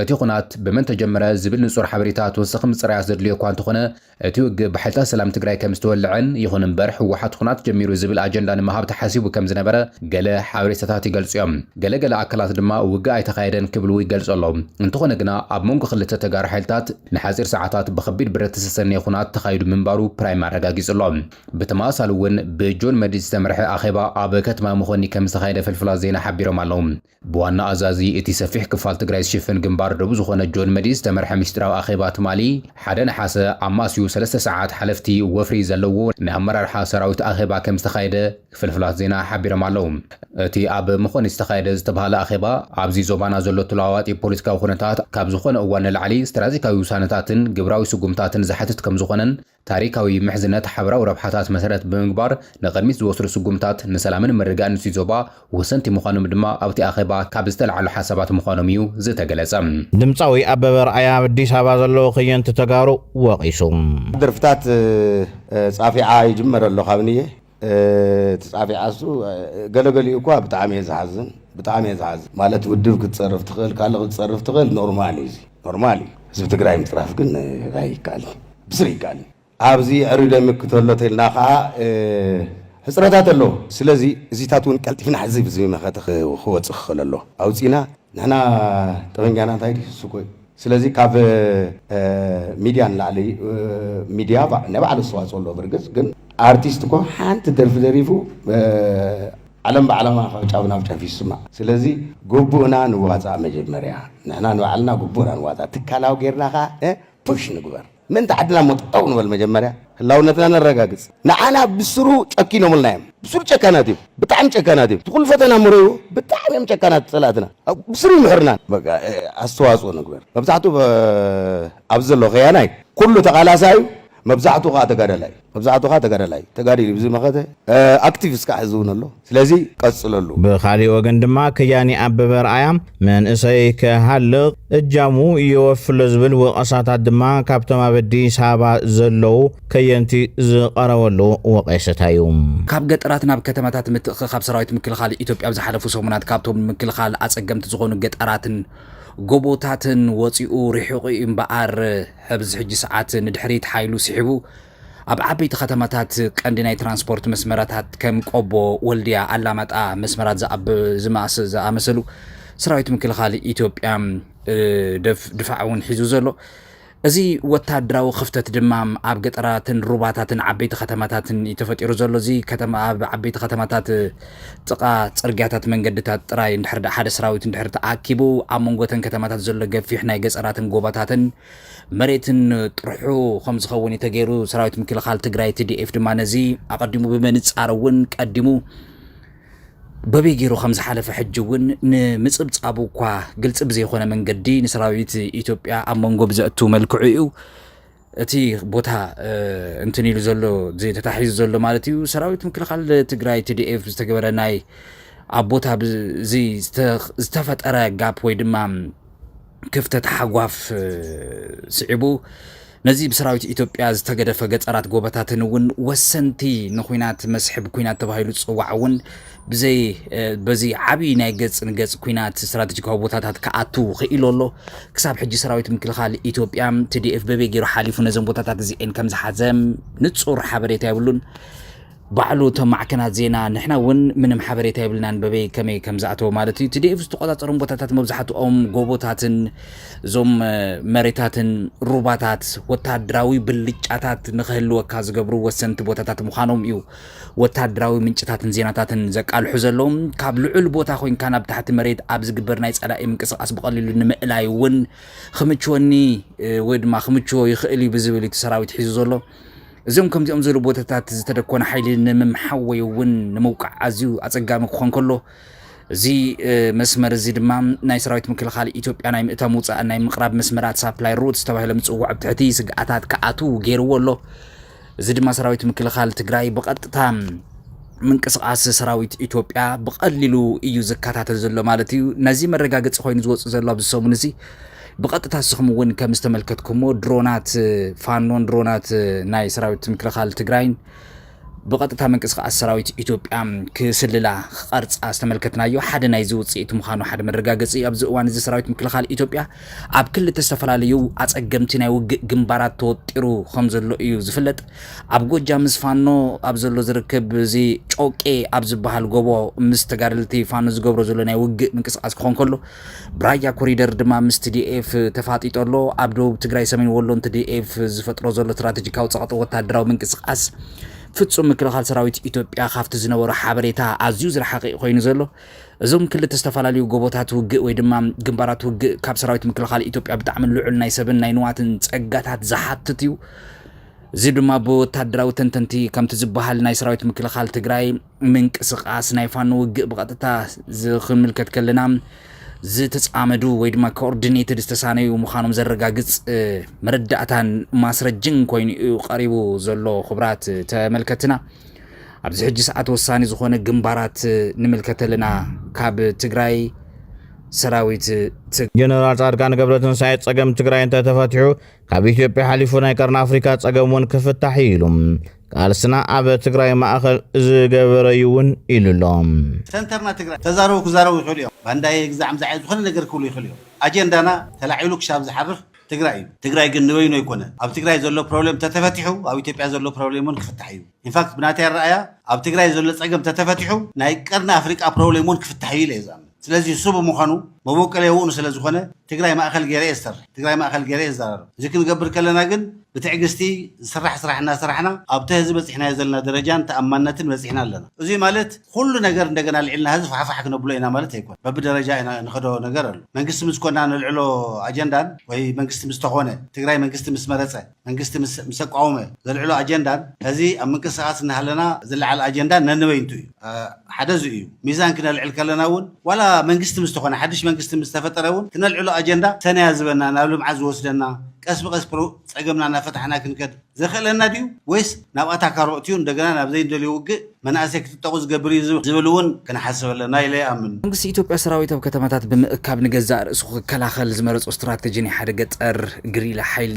Speaker 6: እቲ ኹናት ብመን ተጀመረ ዝብል ንፁር ሓበሬታ ተወሳኺ ምፅራያት ዘድልዮ እኳ እንተኾነ እቲ ውግእ ብሓይልታት ሰላም ትግራይ ከምዝተወልዐን፣ ይኹን እምበር ህወሓት ኹናት ጀሚሩ ዝብል ኣጀንዳ ንምሃብ ተሓሲቡ ከምዝነበረ ገለ ሓበሬታታት ይገልፁ እዮም። ገለ ገለ ኣካላት ድማ ውግእ ኣይተኻየደን ክብሉ ይገልፁ ኣለው። እንተኾነ ግና ኣብ መንጎ ክልተ ተጋሩ ሓይልታት ንሓፂር ሰዓታት ብኸቢድ ብረት ዝተሰነየ ኹናት ተኻይዱ ምንባሩ ፕራይም ኣረጋጊፁ ኣሎ። ብተመሳሳሊ እውን ብጆን መዲድ ዝተመርሐ ኣኼባ ኣብ ከተማ መኾኒ ከምዝተኻየደ ፍልፍላት ዜና ሓቢሮም ኣለው። ብዋና ኣዛዚ እቲ ሰፊሕ ክፋል ትግራይ ዝሽፍን ግንባር ዶብ ዝኾነ ጆን መዲድ ዝተመርሐ ምስጢራዊ ኣኼባ ትማሊ ሓደ ነሓሰ ኣማስዩ ሰለስተ ሰዓት ሓለፍቲ ወፍሪ ዘለዎ ናይ ኣመራርሓ ሰራዊት ኣኼባ ከምዝተኻየደ ፍልፍላት ዜና ሓቢሮም ኣለው። እቲ ኣብ መኾኒት ዝተኻየደ ዝተብሃለ ኣኼባ ኣብዚ ዞባና ዘሎ ተለዋዋጢ ፖለቲካዊ ኩነታት ካብ ዝኾነ እዋን ንላዕሊ ስትራቴጂካዊ ውሳነታትን ግብራዊ ስጉምታትን ዝሓትት ከምዝኾነን ታሪካዊ ምሕዝነት ሓበራዊ ረብሓታት መሰረት ብምግባር ንቕድሚት ዝወስዱ ስጉምታት ንሰላምን ምርግጋእን እቲ ዞባ ወሰንቲ ምዃኖም ድማ ኣብቲ ኣኼባ ካብ ዝተልዓሉ ሓሳባት ምዃኖም እዩ ዝተገለፀ። ድምፃዊ ኣበበ
Speaker 2: ኣርኣያ ኣብ ኣዲስ ኣበባ ዘለዉ ከየንቲ ተጋሩ ወቒሱ። ድርፍታት
Speaker 7: ጻፊዓ ይጅመር ኣሎ ካብንየ። እቲ ጻፊዓሱ ገለገሊኡ እኳ ብጣዕሚ እየ ዝሓዝን ብጣዕሚ እየ ዝሓዝን ማለት ውድብ ክትጸርፍ ትኽእል ካልእ ክትጸርፍ ትኽእል ኖርማል እዩ እዚ ኖርማል እዩ ህዝቢ ትግራይ ምጽራፍ ግን ኣይከኣልን ብስሪ ኣይከኣልን ኣብዚ የዕሪ ደምክ ተሎ ተልና ከዓ ሕፅረታት ኣለዎ ስለዚ እዚታት እውን ቀልጢፍና ሕዚ ብዚ መኸተ ክወፅእ ክኽእል ኣለዎ ኣውፂና ንሕና ጠበንጃና እንታይ ድዩ ስሱኮ እዩ ስለዚ ካብ ሚድያ ንላዕሊ ሚድያ ናይ ባዕሉ ኣስተዋፅኦ ኣለዎ ብርግፅ ግን ኣርቲስት እኮ ሓንቲ ደርፊ ደሪፉ ዓለም ብዓለማ ካብ ጫፍ ናብ ጫፍ ይስማዕ ስለዚ ግቡእና ንዋፃእ መጀመርያ ንሕና ንባዕልና ግቡእና ንዋፃእ ትካላዊ ጌርና ከዓ ፑሽ ንግበር ምእንቲ ዓድና እሞ ጠጠው ንበል መጀመርያ ህላውነትና ነረጋግጽ ንዓና ብስሩ ጨኪኖምልና እዮም ብስሩ ጨካናት እዮም ብጣዕሚ ጨካናት እዮም እቲ ኩሉ ፈተና እሞ ረእይዎ ብጣዕሚ እዮም ጨካናት ጸላእትና ኣብ ብስሩ ይምሕሩና በቃ ኣስተዋጽኦ ንግበር መብዛሕቱ ኣብዚ ዘሎ ከያናይ ኩሉ ተቃላሳይ እዩ መብዛሕቱ ከኣ ተጋዳላይ እዩ መብዛሕቱ ከኣ ተጋዳላይ ተጋዲሉ እዩ ብዝመኸተ ኣክቲቭ እስካዕ ሕዚ እውን ኣሎ ስለዚ ቀፅለሉ። ብኻሊእ ወገን
Speaker 2: ድማ ከያኒ ኣበበ ኣርኣያ መንእሰይ ክሃልቕ እጃሙ የወፊ ኣሎ ዝብል ወቐሳታት ድማ ካብቶም ኣብ ኣዲስ ኣበባ ዘለዉ ከየንቲ ዝቐረበሉ ወቐሰታ እዩ። ካብ ገጠራት ናብ
Speaker 8: ከተማታት ምትእኽኻብ ሰራዊት ምክልኻል ኢትዮጵያ ኣብ ዝሓለፉ ሰሙናት ካብቶም ንምክልኻል ኣፀገምቲ ዝኾኑ ገጠራትን ጎቦታትን ወፂኡ ሪሒቑ እዩ እምበኣር ሕብዚ ሕጂ ሰዓት ንድሕሪት ሓይሉ ስሒቡ ኣብ ዓበይቲ ከተማታት ቀንዲ ናይ ትራንስፖርት መስመራታት ከም ቆቦ፣ ወልድያ፣ ኣላማጣ መስመራት ዝኣመሰሉ ሰራዊት ምክልኻል ኢትዮጵያ ድፋዕ እውን ሒዙ ዘሎ እዚ ወታደራዊ ክፍተት ድማ ኣብ ገጠራትን ሩባታትን ዓበይቲ ከተማታትን እዩ ተፈጢሩ ዘሎ እዚ ከተማ ኣብ ዓበይቲ ከተማታት ጥቃ ፅርግያታት መንገድታት ጥራይ እንድሕር ሓደ ሰራዊት እንድሕር ተኣኪቡ ኣብ መንጎተን ከተማታት ዘሎ ገፊሕ ናይ ገፀራትን ጎባታትን መሬትን ጥርሑ ከም ዝኸውን እዩ ተገይሩ። ሰራዊት ምክልኻል ትግራይ ትዲኤፍ ድማ ነዚ ኣቐዲሙ ብምንጻር እውን ቀዲሙ በበይ ገይሩ ከም ዝሓለፈ ሕጂ እውን ንምጽብጻቡ እኳ ግልፂ ብዘይኮነ መንገዲ ንሰራዊት ኢትዮጵያ ኣብ መንጎ ብዘእቱ መልክዑ እዩ እቲ ቦታ እንትን ኢሉ ዘሎ ተታሒዙ ዘሎ ማለት እዩ ሰራዊት ምክልኻል ትግራይ ትዲኤፍ ዝተገበረ ናይ ኣብ ቦታ ዝተፈጠረ ጋፕ ወይ ድማ ክፍተት ሓጓፍ ስዒቡ ነዚ ብሰራዊት ኢትዮጵያ ዝተገደፈ ገፀራት ጎበታትን እውን ወሰንቲ ንኩናት መስሕብ ኩናት ተባሂሉ ዝፅዋዕ እውን ብዘይ በዚ ዓብዪ ናይ ገፅ ንገፅ ኩናት ስትራቴጂካዊ ቦታታት ክኣቱ ክኢሉ ኣሎ ክሳብ ሕጂ ሰራዊት ምክልኻል ኢትዮጵያ ትዲኤፍ በበይ ገይሩ ሓሊፉ ነዘም ቦታታት እዚኤን ከም ዝሓዘ ንፁር ሓበሬታ የብሉን ባዕሉ እቶም ማዕከናት ዜና ንሕና እውን ምንም ሓበሬታ የብልናን በበይ ከመይ ከም ዝኣተወ ማለት እዩ ቲዲኤፍ ዝተቆጻጸሮም ቦታታት መብዛሕትኦም ጎቦታትን እዞም መሬታትን ሩባታት ወታደራዊ ብልጫታት ንክህልወካ ዝገብሩ ወሰንቲ ቦታታት ምዃኖም እዩ ወታደራዊ ምንጭታትን ዜናታትን ዘቃልሑ ዘለዉ ካብ ልዑል ቦታ ኮንካ ናብ ታሕቲ መሬት ኣብ ዝግበር ናይ ጸላኢ ምንቅስቃስ ብቐሊሉ ንምእላይ እውን ክምችወኒ ወይ ድማ ክምችዎ ይኽእል እዩ ብዝብል እቲ ሰራዊት ሒዙ ዘሎ እዞም ከምዚኦም ዝበሉ ቦታታት ዝተደኮነ ሓይሊ ንምምሓው ወይ እውን ንምውቃዕ ኣዝዩ ኣጸጋሚ ክኾን ከሎ እዚ መስመር እዚ ድማ ናይ ሰራዊት ምክልኻል ኢትዮጵያ ናይ ምእታው ምውፃእን ናይ ምቕራብ መስመራት ሳፕላይ ሩትስ ተባሂሎም ዝፅውዑ ኣብ ትሕቲ ስግኣታት ክኣትው ገይርዎ ኣሎ እዚ ድማ ሰራዊት ምክልኻል ትግራይ ብቐጥታ ምንቅስቓስ ሰራዊት ኢትዮጵያ ብቐሊሉ እዩ ዝከታተል ዘሎ ማለት እዩ ነዚ መረጋገፂ ኮይኑ ዝወፅእ ዘሎ ኣብዚ ሰሙን እዚ ብቐጥታ እስኹም እውን ከም ዝተመልከትኩሞ ድሮናት ፋኖን ድሮናት ናይ ሰራዊት ምክልኻል ትግራይን ብቐጥታ ምንቅስቃስ ሰራዊት ኢትዮጵያ ክስልላ ክቐርፃ ዝተመልከትናዮ ሓደ ናይዚ ውፅኢት ምዃኑ ሓደ መረጋገፂ እዩ። ኣብዚ እዋን እዚ ሰራዊት ምክልኻል ኢትዮጵያ ኣብ ክልተ ዝተፈላለዩ ኣፀገምቲ ናይ ውግእ ግንባራት ተወጢሩ ከም ዘሎ እዩ ዝፍለጥ። ኣብ ጎጃ ምስ ፋኖ ኣብ ዘሎ ዝርክብ እዚ ጮቄ ኣብ ዝበሃል ጎቦ ምስ ተጋደልቲ ፋኖ ዝገብሮ ዘሎ ናይ ውግእ ምንቅስቃስ ክኾን ከሎ ብራያ ኮሪደር ድማ ምስ TDF ተፋጢጡ ኣሎ። ኣብ ደቡብ ትግራይ ሰሜን ወሎን TDF ዝፈጥሮ ዘሎ ስትራቴጂካዊ ጸቕጢ ወተሃደራዊ ምንቅስቓስ ፍጹም ምክልኻል ሰራዊት ኢትዮጵያ ካብቲ ዝነበሮ ሓበሬታ ኣዝዩ ዝረሓቐ'ዩ ኮይኑ ዘሎ። እዞም ክልተ ዝተፈላለዩ ጎቦታት ውግእ ወይ ድማ ግንባራት ውግእ ካብ ሰራዊት ምክልኻል ኢትዮጵያ ብጣዕሚ ልዑል ናይ ሰብን ናይ ንዋትን ጸጋታት ዝሓትት እዩ። እዚ ድማ ብወተሃደራዊ ተንተንቲ ከምቲ ዝበሃል ናይ ሰራዊት ምክልኻል ትግራይ ምንቅስቃስ ናይ ፋኖ ውግእ ብቐጥታ ዝክምልከት ከለና ዝተፃመዱ ወይ ድማ ኮኦርዲኔትድ ዝተሳነዩ ምዃኖም ዘረጋግፅ መረዳእታን ማስረጅን ኮይኑ እዩ ቀሪቡ ዘሎ ክብራት ተመልከትና ኣብዚ ሕጂ ሰዓት ወሳኒ ዝኾነ ግንባራት ንምልከት ኣለና ካብ ትግራይ ሰራዊት ጀነራል
Speaker 2: ጻድቃን ገብረትንሳኤ ጸገም ትግራይ እንተተፈትሑ ካብ ኢትዮጵያ ሓሊፉ ናይ ቀርኒ ኣፍሪካ ጸገም እውን ክፍታሕ እዩ ኢሉ ቃልስና ኣብ ትግራይ ማእኸል ዝገበረ እዩ እውን ኢሉ ኣሎ። ሰንተርና ትግራይ
Speaker 9: ተዛረቡ ክዛረቡ ይኽእሉ እዮም ባንዳየ ግዛዕ ምዛዕ እየ ዝኾነ ነገር ክብሉ ይኽእሉ እዮም ኣጀንዳና ተላዒሉ ክሻብ ዝሓርፍ ትግራይ እዩ። ትግራይ ግን ንበይኑ ኣይኮነን ኣብ ትግራይ ዘሎ ፕሮብሌም ተተፈቲሑ ኣብ ኢትዮጵያ ዘሎ ፕሮብሌም እውን ክፍታሕ እዩ ኢንፋክት ብናተይ ኣረኣእያ ኣብ ትግራይ ዘሎ ፀገም ተተፈቲሑ ናይ ቀርኒ ኣፍሪቃ ፕሮብሌም እውን ክፍታሕ እዩ ኢለ እየ ዝኣምን። ስለዚ እሱ ብምዃኑ መቦቀለየኡ ንስለዝኾነ ትግራይ ማእኸል ገይረ እየ ዝሰርሕ፣ ትግራይ ማእኸል ገይረ እየ ዝዛረብ። እዚ ክንገብር ከለና ግን ብትዕግስቲ ዝስራሕ ስራሕ እናሰራሕና ኣብቲ ሀዚ በፂሕናዮ ዘለና ደረጃን ተኣማንነትን በፂሕና ኣለና። እዙይ ማለት ኹሉ ነገር እንደገና ኣልዒልና ሀዚ ፋሕፋሕ ክነብሎ ኢና ማለት ኣይኮነን። በብደረጃ ኢና እንኸዶ ነገር ኣሎ። መንግስቲ ምስኮና ነልዕሎ ኣጀንዳን ወይ መንግስቲ ምስተኾነ፣ ትግራይ መንግስቲ ምስመረፀ፣ መንግስቲ ምስ ኣቋወመ ዘልዕሎ ኣጀንዳን ሐዚ ኣብ ምንቅስቃስ እናሃለና ዝለዓል ኣጀንዳን ነንበይንቱ እዩ። ሓደ እዚ እዩ። ሚዛን ክነልዕል ከለና እውን ዋላ መንግስቲ ምስ ተኾነ ሓድሽ መንግስቲ ምስ ተፈጠረ እውን ክነልዕሎ ኣጀንዳ ሰናይ ኣዝበና ናብ ልምዓት ዝወስደና ቀስ ብቀስ ፀገምና እናፈታሕና ክንከድ ዘኽእለና ድዩ ወይስ ናብ ኣታካሮ ኣእትዩ እንደገና ናብ ዘይንደልዮ ውግእ መናእሰይ ክጥጠቑ ዝገብር እዩ ዝብል እውን ክንሓስብ ኣለና ኢለ ይኣምን። መንግስቲ ኢትዮጵያ ሰራዊት ኣብ
Speaker 8: ከተማታት ብምእካብ ንገዛእ ርእሱ ክከላኸል ዝመረፆ ስትራተጂ ናይ ሓደ ገጠር ግሪላ ሓይሊ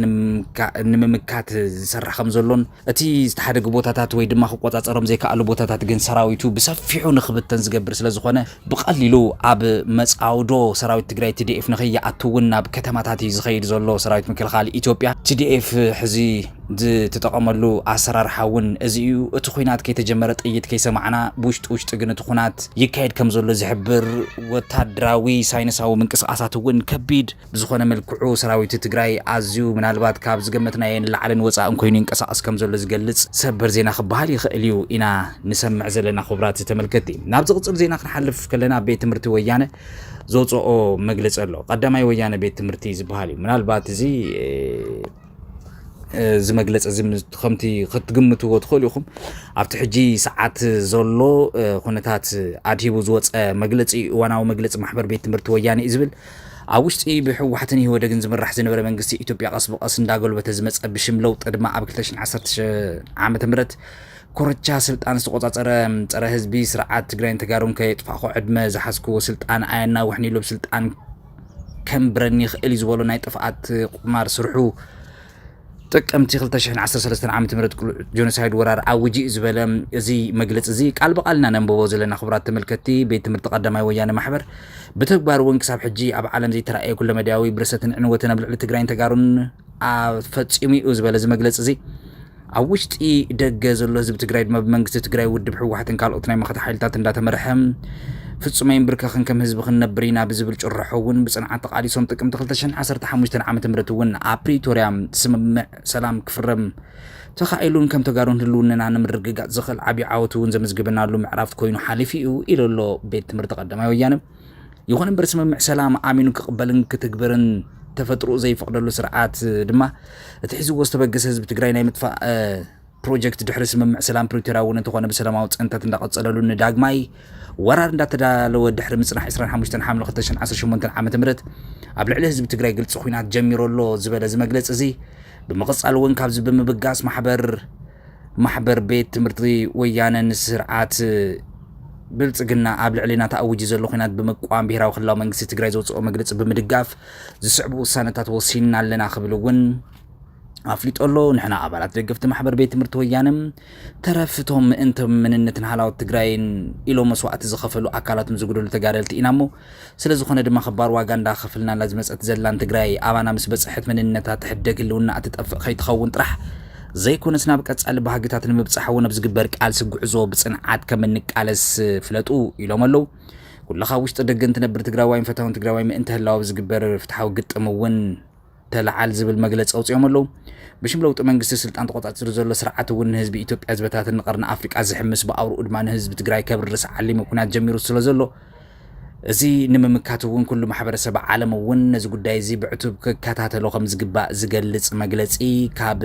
Speaker 8: ንምምካት ዝሰርሕ ከምዘሎን እቲ ዝተሓደጉ ቦታታት ወይ ድማ ክቆፃፀሮም ዘይከኣሉ ቦታታት ግን ሰራዊቱ ብሰፊሑ ንክብተን ዝገብር ስለዝኾነ ብቐሊሉ ኣብ መጻውዶ ሰራዊት ትግራይ ቲዲኤፍ ንከይኣቱ እውን ናብ ከተማታት እዩ ዝኸይድ ዘሎ ሰራዊት ምክልኻል ኢትዮጵያ። ቲዲኤፍ ሕዚ ዝትጠቐመሉ ኣሰራርሓ እውን እዚ እዩ። እቲ ኹናት ከይተጀመረ ጥይት ከይሰማዕና ብውሽጢ ውሽጢ ግን እቲ ኹናት ይካየድ ከምዘሎ ዝሕብር ወታደራዊ ሳይንሳዊ ምንቅስቓሳት እውን ከቢድ ብዝኾነ መልክዑ ሰራዊት ትግራይ ኣዝዩ ምናልባት ካብ ዝገመትናዮ ንላዕልን ወፃእን ኮይኑ ይንቀሳቐስ ከምዘሎ ዝገልፅ ሰበር ዜና ክበሃል ይኽእል እዩ ኢና ንሰምዕ ዘለና ኹብራት ተመልከትቲ። ናብ ዝቕፅል ዜና ክንሓልፍ ከለና ቤት ትምህርቲ ወያነ ዘውፀኦ መግለፂ ኣሎ። ቐዳማይ ወያነ ቤት ትምህርቲ ዝበሃል እዩ። ምናልባት እዚ እዚ መግለፂ እዚ ከምቲ ክትግምትዎ ትኽእሉ ኢኹም ኣብቲ ሕጂ ሰዓት ዘሎ ኩነታት ኣድሂቡ ዝወፀ መግለፂ እዩ። እዋናዊ መግለፂ ማሕበር ቤት ትምህርቲ ወያነ እዩ ዝብል ኣብ ውሽጢ ብሕወሓትን ኢህወደግን ዝምራሕ ዝነበረ መንግስቲ ኢትዮጵያ ቀስ ብቐስ እንዳጎልበተ ዝመፀ ብሽም ለውጢ ድማ ኣብ 2016 ም ኮረቻ ስልጣን ዝተቆፃፀረ ፀረ ህዝቢ ስርዓት ትግራይን ተጋሩን ከየጥፋእኹ ዕድመ ዝሓዝክዎ ስልጣን ኣየናውሕን ኢሉ ስልጣን ከምብረኒ ይኽእል እዩ ዝበሎ ናይ ጥፍኣት ቁማር ስርሑ ጥቅምቲ ክልተ ሽሕን ዓሰርተ ሰለስተን ዓመተ ምህረት ቅሉዕ ጆኖሳይድ ወራር ኣዊጁ እዩ ዝበለ እዚ መግለፂ እዚ ቃል ብቃል ኢና ነንብቦ ዘለና ክቡራት ተመልከትቲ ቤት ትምህርቲ ቀዳማይ ወያነ ማሕበር ብተግባር እውን ክሳብ ሕጂ ኣብ ዓለም ዘይተራእየ ኩለመዳያዊ ብርሰትን ዕንወትን ኣብ ልዕሊ ትግራይን ተጋሩን ፈፂሙ እዩ ዝበለ እዚ መግለፂ እዚ ኣብ ውሽጢ ደገ ዘሎ ህዝቢ ትግራይ ድማ ብመንግስቲ ትግራይ ውድብ ህወሓትን ካልኦት ናይ መኸተ ሓይልታት እንዳተመርሐ ፍጹም ኣይንብርከኽን ከም ህዝቢ ክንነብር ኢና ብዝብል ጭርሖ እውን ብፅንዓት ተቓሊሶም ጥቅምቲ 2015 ዓ ም እውን ኣብ ፕሪቶርያ ስምምዕ ሰላም ክፍረም ተኻኢሉን ከም ተጋሩን ህልውንና ንምርግጋፅ ዝኽእል ዓብዪ ዓወት እውን ዘመዝግበናሉ ምዕራፍ ኮይኑ ሓሊፉ እዩ ኢሉ ኣሎ ቤት ትምህርቲ ቀዳማይ ወያነ ይኹን እምበር ስምምዕ ሰላም ኣሚኑ ክቕበልን ክትግብርን ተፈጥሮኡ ዘይፈቕደሉ ስርዓት ድማ እቲ ሒዝዎ ዝተበገሰ ህዝቢ ትግራይ ናይ ምጥፋእ ፕሮጀክት ድሕሪ ስምምዕ ሰላም ፕሪቶርያ እውን እንተኾነ ብሰላማዊ ፅንተት እንዳቐፀለሉ ንዳግማይ ወራር እንዳተዳለወ ድሕሪ ምፅናሕ 25 ሓምለ 2018 ዓ ም ኣብ ልዕሊ ህዝቢ ትግራይ ግልፂ ኩናት ጀሚሩ ኣሎ ዝበለ እዚ መግለፂ እዚ ብምቕፃል እውን ካብዚ ብምብጋስ ማሕበር ማሕበር ቤት ትምህርቲ ወያነ ንስርዓት ብልፅግና ኣብ ልዕሊና ተኣዊጁ ዘሎ ኩናት ብምቋም ብሄራዊ ክልላዊ መንግስቲ ትግራይ ዘውፅኦ መግለፂ ብምድጋፍ ዝስዕቡ ውሳነታት ወሲንና ኣለና ክብል እውን ኣፍሊጦ ኣሎ ንሕና ኣባላት ደገፍቲ ማሕበር ቤት ትምህርቲ ወያነ ተረፍቶም ምእንቶም መንነትን ሃላወት ትግራይን ኢሎም መስዋእቲ ዝኸፈሉ ኣካላቶም ዝጉደሉ ተጋደልቲ ኢና እሞ ስለ ዝኾነ ድማ ኽባር ዋጋ እንዳ ኸፍልናላ ዝመጸት ዘላን ትግራይ ኣባና ምስ በጸሐት መንነታ ትሕደግ ህልውናኣ ትጠፍእ ኸይትኸውን ጥራሕ ዘይኮነስ ናብ ቀጻሊ ባህግታት ንምብጻሕ እውን ኣብ ዝግበር ቃልሲ ጉዕዞ ብጽንዓት ከም እንቃለስ ፍለጡ ኢሎም ኣለው። ኩልኻ ኣብ ውሽጢ ደገን ትነብር ትግራዋይን ፈታውን ትግራዋይ ምእንተ ህላወ ኣብ ዝግበር ፍትሓዊ ግጥም እውን ተለዓል ዝብል መግለፂ ኣውፂኦም ኣለዉ። ብሽም ለውጢ መንግስቲ ስልጣን ተቆፃፂሩ ዘሎ ስርዓት እውን ንህዝቢ ኢትዮጵያ ዝበታትን ንቀርኒ ኣፍሪቃ ዝሕምስ ብኣውርኡ ድማ ንህዝቢ ትግራይ ከብርስ ዓሊሙ ኩናት ጀሚሩ ስለዘሎ እዚ ንምምካት እውን ኩሉ ማሕበረሰብ ዓለም እውን ነዚ ጉዳይ እዚ ብዕቱብ ክከታተሎ ከም ዝግባእ ዝገልፅ መግለፂ ካብ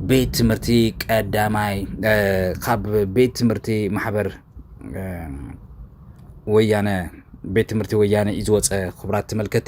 Speaker 8: ቤት ትምህርቲ ቀዳማይ ካብ ቤት ትምህርቲ ማሕበር ወያነ ቤት ትምህርቲ ወያነ እዩ ዝወፀ ክቡራት ተመልከቲ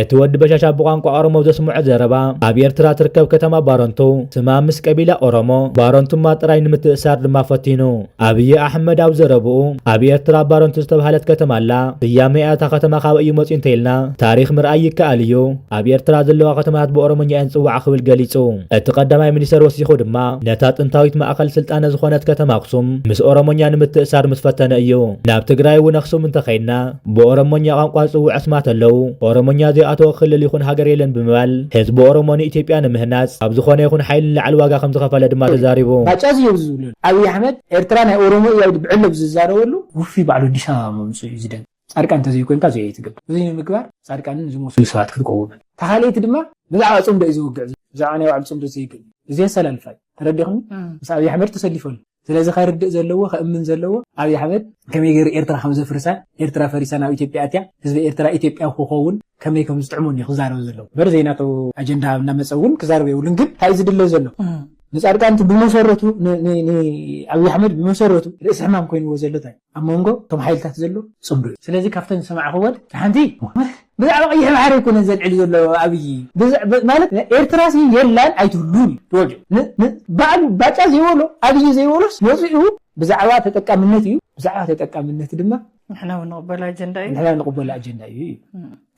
Speaker 10: እቲ ወዲ በሻሻ ብቋንቋ ኦሮሞ ዘስምዖ ዘረባ፣ ኣብ ኤርትራ እትርከብ ከተማ ባረንቱ፣ ስማ ምስ ቀቢላ ኦሮሞ፣ ባረንቱማ፣ ጥራይ ንምትእሳር ድማ ፈቲኑ። ኣብይ ኣሕመድ ኣብ ዘረብኡ፣ ኣብ ኤርትራ ባረንቱ ዝተብሃለት ከተማ ኣላ፣ ስያሜኣ እታ ከተማ ካበይ እዩ መጺኡ እንተኢልና፣ ታሪኽ ምርኣይ ይከኣል እዩ። ኣብ ኤርትራ ዘለዋ ከተማታት ብኦሮሞኛ እየን ዝጽውዓ ክብል ገሊጹ። እቲ ቀዳማይ ሚኒስተር ወሲኹ ድማ፣ ነታ ጥንታዊት ማእከል ስልጣነ ዝኾነት ከተማ ኣክሱም ምስ ኦሮሞኛ ንምትእሳር ምስ ፈተነ እዩ። ናብ ትግራይ እውን ኣክሱም እንተኸይድና፣ ብኦሮሞኛ ቋንቋ ዝጽውዑ ኣስማት ኣለዉ። ኦሮሞኛ ዘይኣተዎ ክልል ይኹን ሃገር የለን ብምባል ህዝቢ ኦሮሞ ንኢትዮጵያ ንምህናጽ ካብ ዝኾነ ይኹን ሓይሊ ንላዕሊ ዋጋ ከምዝኸፈለ ድማ ተዛሪቡ። ባጫ'ዚ ኢዩ ዝብለሉ።
Speaker 11: ኣቢይ ኣሕመድ ኤርትራ ናይ ኦሮሞ ኢያ ኢሉ ብዕሊ ኣብ ዝዛረበሉ ውፉይ ባዕሉ ኣዲስ ኣበባ ምምጽኡ ኢዩ ዝደንቅ። ጻድቃን እንተዘይኮይንካ እዚ ኣይትገብር። እዚ ንምግባር ጻድቃንን ዝመሰሉ ሰባት ክትቀውምን። እታ ካልኣይቲ ድማ ብዛዕባ ጽምዶ ኢዩ ዘወግዕ ዘሎ። ብዛዕባ ናይ ባዕሉ ጽምዶ ዘይገድድ። እዚ ኣሰላልፋ ኢዩ። ተረዲኽኒ? ምስ ኣቢይ ኣሕመድ ተሰሊፉ ኣሎ። ስለዚ ከርድእ ዘለዎ ከእምን ዘለዎ ኣብይ ኣሕመድ ከመይ ገይሩ ኤርትራ ከም ዘፍርሳ ኤርትራ ፈሪሳ ናብ ኢትዮጵያ ኣትያ ህዝቢ ኤርትራ ኢትዮጵያዊ ክኸውን ከመይ ከም ዝጥዕሞን እዩ ክዛረብ ዘለዎ እምበር ዘይናቱ ኣጀንዳ ኣብ እናመጸ እውን ክዛረብ የብሉን ግን እንታይ እዩ ዝድለ ዘሎ ንጻድቃን እቲ ብመሰረቱ ንኣብይ ኣሕመድ ብመሰረቱ ርእሲ ሕማም ኮይንዎ ዘሎ እንታይ ኣብ ሞንጎ እቶም ሓይልታት ዘሎ ጽምዶ እዩ። ስለዚ ካብተን ዝሰማዕክወን እታ ሓንቲ ብዛዕባ ቀይሕ ባሕሪ ኣይኮነን ዘልዕል ዘሎ ኣብይ ማለት ኤርትራሲ የላን ኣይትህሉን እዩ ትወልድ ን ባዕሉ ባጫ ዘይበሎ ኣብይ ዘይበሎስ መጺኡ ብዛዕባ ተጠቃምነት እዩ ብዛዕባ ተጠቃምነት ድማ ንሕና ውን ንቕበሎ
Speaker 12: ኣጀንዳ እዩ ንሕና ንቕበሎ ኣጀንዳ እዩ እዩ።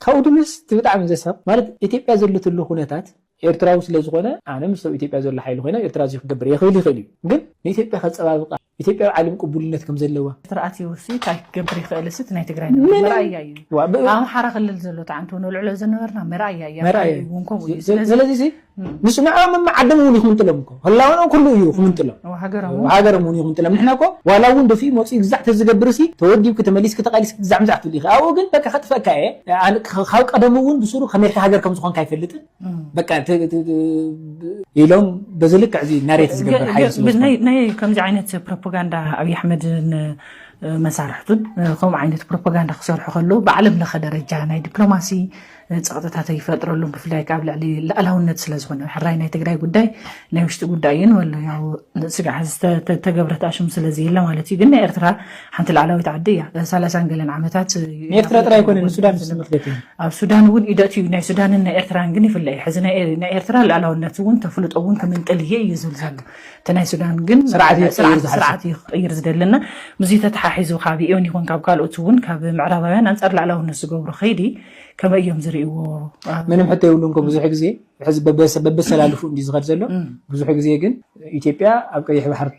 Speaker 12: ካብኡ ድምስ እቲ ብጣዕሚ ዘሳቕ ማለት ኢትዮጵያ ዘለትሉ ኩነታት ኤርትራዊ ስለ ዝኾነ ኣነ ምስ ኣብ ኢትዮጵያ ዘሎ ሓይሊ ኮይነ ኤርትራ እዚ ክገብር የኽእል ይኽእል እዩ ግን ንኢትዮጵያ ከጸባብቃ ኢትዮጵያ ኣብ ዓለም ቅቡልነት ከም ዘለዋ ተረኣትዩሲ እንታይ ክገብር ይኽእልሲ እቲ ናይ ትግራይ ነገር ምንም። መርኣያ እዩ ዋ፣ ብ- ኣብ ኣምሓራ ክልል ዘሎ ተዓንቶ ነልዕሎ ዝነበርና መርኣያ እዩ ኣብ መርኣያ ትግራይ እዩ። እውን ከምኡ እዩ ስለዚ
Speaker 11: ስለዚ እዚ እም፣ ንሱ ንዕኦም እማ ዓዶም እውን ይኹምጥሎም እኮ ህላወኖም ኩሉ እዩ ይኹምጥሎም እዋ፣ ሃገሮም እውን ሃገሮም እውን ይኹምጥሎም ንሕና እኮ ዋላ እውን ደፊኡ መፂኡ ግዛዕ ተዝገብር ሲ ተወዲብኪ ተመሊስኪ ተቓሊስኪ ግዛዕ ምዛዕ ትብሊ ኢኺ ኣብኡ ግን በቃ ከጥፈካ እየ ኣነ ክ- ካብ ቀደሙ እውን ብስሩ ከመይካ ሃገር ከም ዝኾንካ ኣይፈልጥን በቃ ኢሎም በዚ ልክዕ እዚ ናሬት ዝገብር ሓይሊ ስለዝናይ ከምዚ ዓይነት
Speaker 12: ፕሮፓጋንዳ ኣብዪ ኣሕመድን መሳርሕቱን ከምኡ ዓይነት ፕሮፓጋንዳ ክሰርሑ ከለዉ ብዓለም ለኸ ደረጃ ናይ ዲፕሎማሲ ፀቕጥታት ይፈጥረሉም ብፍላይ ካብ ልዕሊ ላእላውነት ስለዝኾነ ሕራይ ናይ ትግራይ ጉዳይ ናይ ውሽጢ ጉዳይ እዩ ንበሎ ያው ስጋዕ ዝተገብረት ኣሽም ስለዚ የለ ማለት እዩ ግን ናይ ኤርትራ ሓንቲ ላዕላዊት ዓዲ እያ ሰላሳን ገለን ዓመታት ንኤርትራ ጥራይ ኣይኮነን
Speaker 11: ንሱዳን ዝተመፍለጥ እዩ ኣብ ሱዳን እውን ኢደት
Speaker 12: እዩ ናይ ሱዳንን ናይ ኤርትራን ግን ይፍለ እዩ ሕዚ ናይ ኤርትራ ልኣላውነት እውን ተፍልጦ እውን ክምንጥል እየ እዩ ዝብል ዘሎ እቲ ናይ ሱዳን ግን ስርዓት እዩ ክቅይር ዝደለና ምስዚ ተተሓሒዙ ካብ ኢዮን ይኹን ካብ ካልኦት እውን ካብ ምዕራባውያን ኣንፃር ላዕላውነት ዝገብሩ ከይዲ ከመይ እዮም ዝርእዎ ምንም ሕቶ የብሉን
Speaker 11: ኮ ብዙሕ ግዜ ሕዚ በበሰላልፉ እንዲ ዝኸድ ዘሎ ብዙሕ ግዜ ግን ኢትዮጵያ ኣብ ቀይሕ ባሕር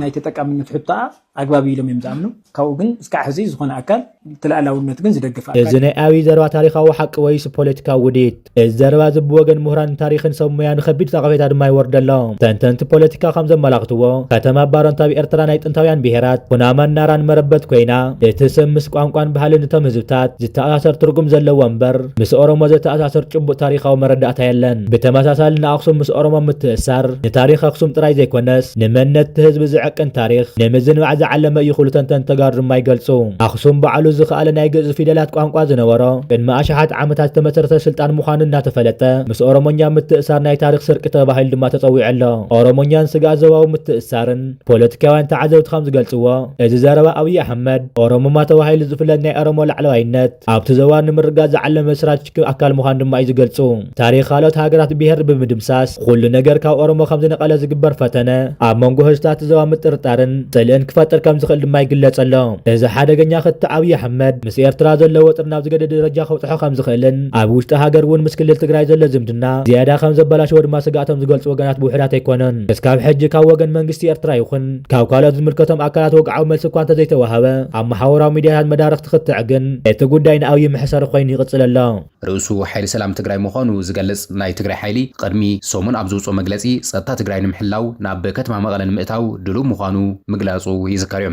Speaker 11: ናይ ተጠቃምነት ሕቶኣ ኣግባብ እዩ ኢሎም እዮም ዝኣምኑ። ካብኡ ግን እስካዕ ሕዚ ዝኾነ ኣካል እቲ ልኣላውነት ግን ዝደግፍ ኣካል እዚ ናይ ኣብይ ዘረባ
Speaker 10: ታሪኻዊ ሓቂ ወይስ ፖለቲካዊ ውዲት? እዚ ዘረባ እዚ ብወገን ምሁራን ታሪኽን ሰብ ሞያን ኸቢድ ነቐፌታ ድማ ይወርዶ ኣሎ። ተንተንቲ ፖለቲካ ከም ዘመላኽትዎ ከተማ ባረንቱ ኣብ ኤርትራ ናይ ጥንታውያን ብሄራት ኩናማን ናራን መረበት ኮይና እቲ ስም ምስ ቋንቋን ባህልን እቶም ህዝብታት ዝተኣሳሰር ትርጉም ዘለዎ እምበር ምስ ኦሮሞ ዘተኣሳስር ጭቡጥ ታሪኻዊ መረዳእታ የለን። ብተመሳሳሊ ንኣኽሱም ምስ ኦሮሞ ምትእስሳር ንታሪኽ ኣኽሱም ጥራይ ዘይኮነስ ንመንነት እቲ ህዝቢ ዝዕቅን ታሪኽ ንምዝንባዕ ዝዓለመ እዩ ክብሉ ተንተንቲ ተጋሩ ድማ ይገልጹ። ኣኽሱም ባዕሉ ዝኸኣለ ናይ ግእዝ ፊደላት ቋንቋ ዝነበሮ ቅድሚ ኣሽሓት ዓመታት ዝተመስረተ ስልጣን ምዃኑ እናተፈለጠ ምስ ኦሮሞኛ ምትእሳር ናይ ታሪኽ ስርቂ ተባሂሉ ድማ ተጸዊዑ ኣሎ። ኦሮሞኛን ስግኣት ዞባዊ ምትእስሳርን ፖለቲካውያን ተዓዘብቲ ከም ዝገልጽዎ እዚ ዘረባ ኣብይ ኣሕመድ ኦሮሙማ ተባሂሉ ዝፍለጥ ናይ ኦሮሞ ላዕለዋይነት ኣብቲ ዞባ ንምርጋፅ ዝዓለመ ስትራቴጂክ ኣካል ምዃኑ ድማ እዩ ዝገልፁ። ታሪኽ ካልኦት ሃገራት ብሄር ብምድምሳስ ኹሉ ነገር ካብ ኦሮሞ ከምዝነቐለ ዝግበር ፈተነ ኣብ መንጎ ህዝብታት እቲ ዞባ ምጥርጣርን ፅልእን ክፈጥር ከምዝኽእል ድማ ይግለፅ ኣሎ። እዚ ሓደገኛ ክትዕ ኣብይ ኣሕመድ ምስ ኤርትራ ዘሎ ወጥሪ ናብ ዝገደደ ደረጃ ከብፅሖ ከምዝኽእልን ኣብ ውሽጢ ሃገር እውን ምስ ክልል ትግራይ ዘሎ ዝምድና ዝያዳ ከምዘበላሽዎ ድማ ስግኣቶም ዝገልፁ ወገናት ብውሑዳት ኣይኮኑን። እስካብ ሕጂ ካብ ወገን መንግስቲ ኤርትራ ይኹን ካብ ካልኦት ዝምልከቶም ኣካላት ወግዓዊ መልሲ እኳ እንተዘይተዋሃበ፣ ኣብ መሓውራዊ ሚድያታት መዳርግቲ ክትዕ ግን እቲ ጉዳይ ንኣብዪ መሕሰሪ ኮይኑ ይቕፅል ኣሎ። ርእሱ ሓይሊ ሰላም
Speaker 6: ትግራይ ምዃኑ ዝገልፅ ናይ ትግራይ ሓይሊ ቕድሚ ሰሙን ኣብ ዘውፅኦ መግለፂ ፀጥታ ትግራይ ንምሕላው ናብ ከተማ መቐለ ንምእታው ድሉው ምዃኑ ምግላፁ ይዝከር ዩ።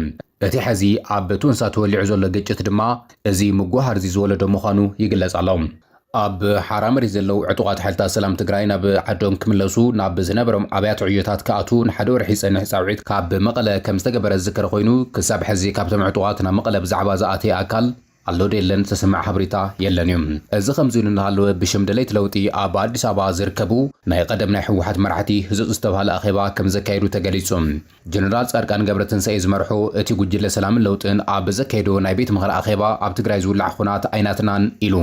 Speaker 6: እቲ ሐዚ ኣብ ቶንሳ ተወሊዑ ዘሎ ግጭት ድማ እዚ ምጉህሃር'ዚ ዝወለዶ ምዃኑ ይግለፅ ኣሎ። ኣብ ሓራ መሬት ዘለው ዕጡቓት ሓይልታት ሰላም ትግራይ ናብ ዓዶም ክምለሱ ናብ ዝነበሮም ኣብያተ ዕዮታት ክኣትው ንሓደ ወርሒ ዝፀንሕ ፃውዒት ካብ መቐለ ከምዝተገበረ ዝዝከር ኾይኑ ክሳብ ሐዚ ካብቶም ዕጡቓት ናብ መቐለ ብዛዕባ ዝኣተየ ኣካል ኣሎ ዶ የለን ዝተሰምዐ ሓበሬታ የለን ዩ። እዚ ከምዚ ኢሉ እናሃለወ ብሽም ደለይቲ ለውጢ ኣብ ኣዲስ ኣበባ ዝርከቡ ናይ ቐደም ናይ ህወሓት መራሕቲ ህፁፅ ዝተብሃለ ኣኼባ ከምዘካየዱ ተገሊፁ። ጀነራል ፃድቃን ገብረትንሳኤ ዝመርሑ እቲ ጉጅለ ሰላምን ለውጥን ኣብ ዘካየዶ ናይ ቤት ምኽሪ ኣኼባ ኣብ ትግራይ ዝውላዕ ኹናት ኣይናትናን ኢሉ።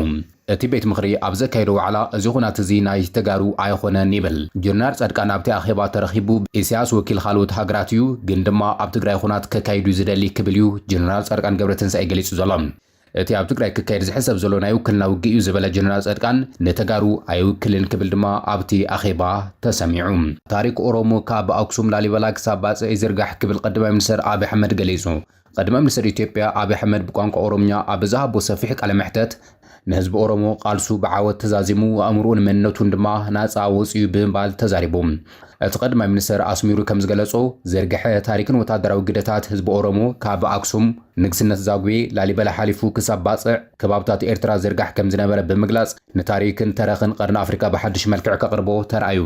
Speaker 6: እቲ ቤት ምኽሪ ኣብ ዘካየዶ ዋዕላ እዚ ኹናት እዚ ናይ ተጋሩ ኣይኾነን ይብል። ጀነራል ፃድቃን ኣብቲ ኣኼባ ተረኺቡ ኢሳያስ ወኪል ኻልኦት ሃገራት እዩ ግን ድማ ኣብ ትግራይ ኹናት ከካይድ እዩ ዝደሊ ክብል እዩ ጀነራል ፃድቃን ገብረትንሳኤ ገሊፁ ዘሎ። እቲ ኣብ ትግራይ ክካየድ ዝሕሰብ ዘሎ ናይ ውክልና ውግእ እዩ ዝበለ ጀነራል ጸድቃን ንተጋሩ ኣይውክልን ክብል ድማ ኣብቲ ኣኼባ ተሰሚዑ። ታሪክ ኦሮሞ ካብ ኣክሱም ላሊበላ ክሳብ ባጽዕ ይዝርጋሕ ክብል ቀዳማይ ሚኒስተር ኣብይ ኣሕመድ ገሊጹ። ቀዳማይ ሚኒስተር ኢትዮጵያ ኣብይ ኣሕመድ ብቋንቋ ኦሮምኛ ኣብ ዝሃቦ ሰፊሕ ቃለ መሕተት፣ ንህዝቢ ኦሮሞ ቃልሱ ብዓወት ተዛዚሙ ኣእምሮኡን መንነቱን ድማ ናጻ ወጺኡ ብምባል ተዛሪቡ። እቲ ቀዳማይ ሚኒስተር ኣስሚሩ ከም ዝገለጾ፣ ዝርግሐ ታሪክን ወተሃደራዊ ግደታት ህዝቢ ኦሮሞ ካብ ኣክሱም፣ ንግስነት ዛጉዌ፣ ላሊበላ ሓሊፉ ክሳብ ባጽዕ ከባብታት ኤርትራ ዝርጋሕ ከም ዝነበረ ብምግላጽ፣ ንታሪክን ተረኽን ቀርኒ ኣፍሪቃ ብሓድሽ መልክዕ ከቕርቦ ተራእዩ።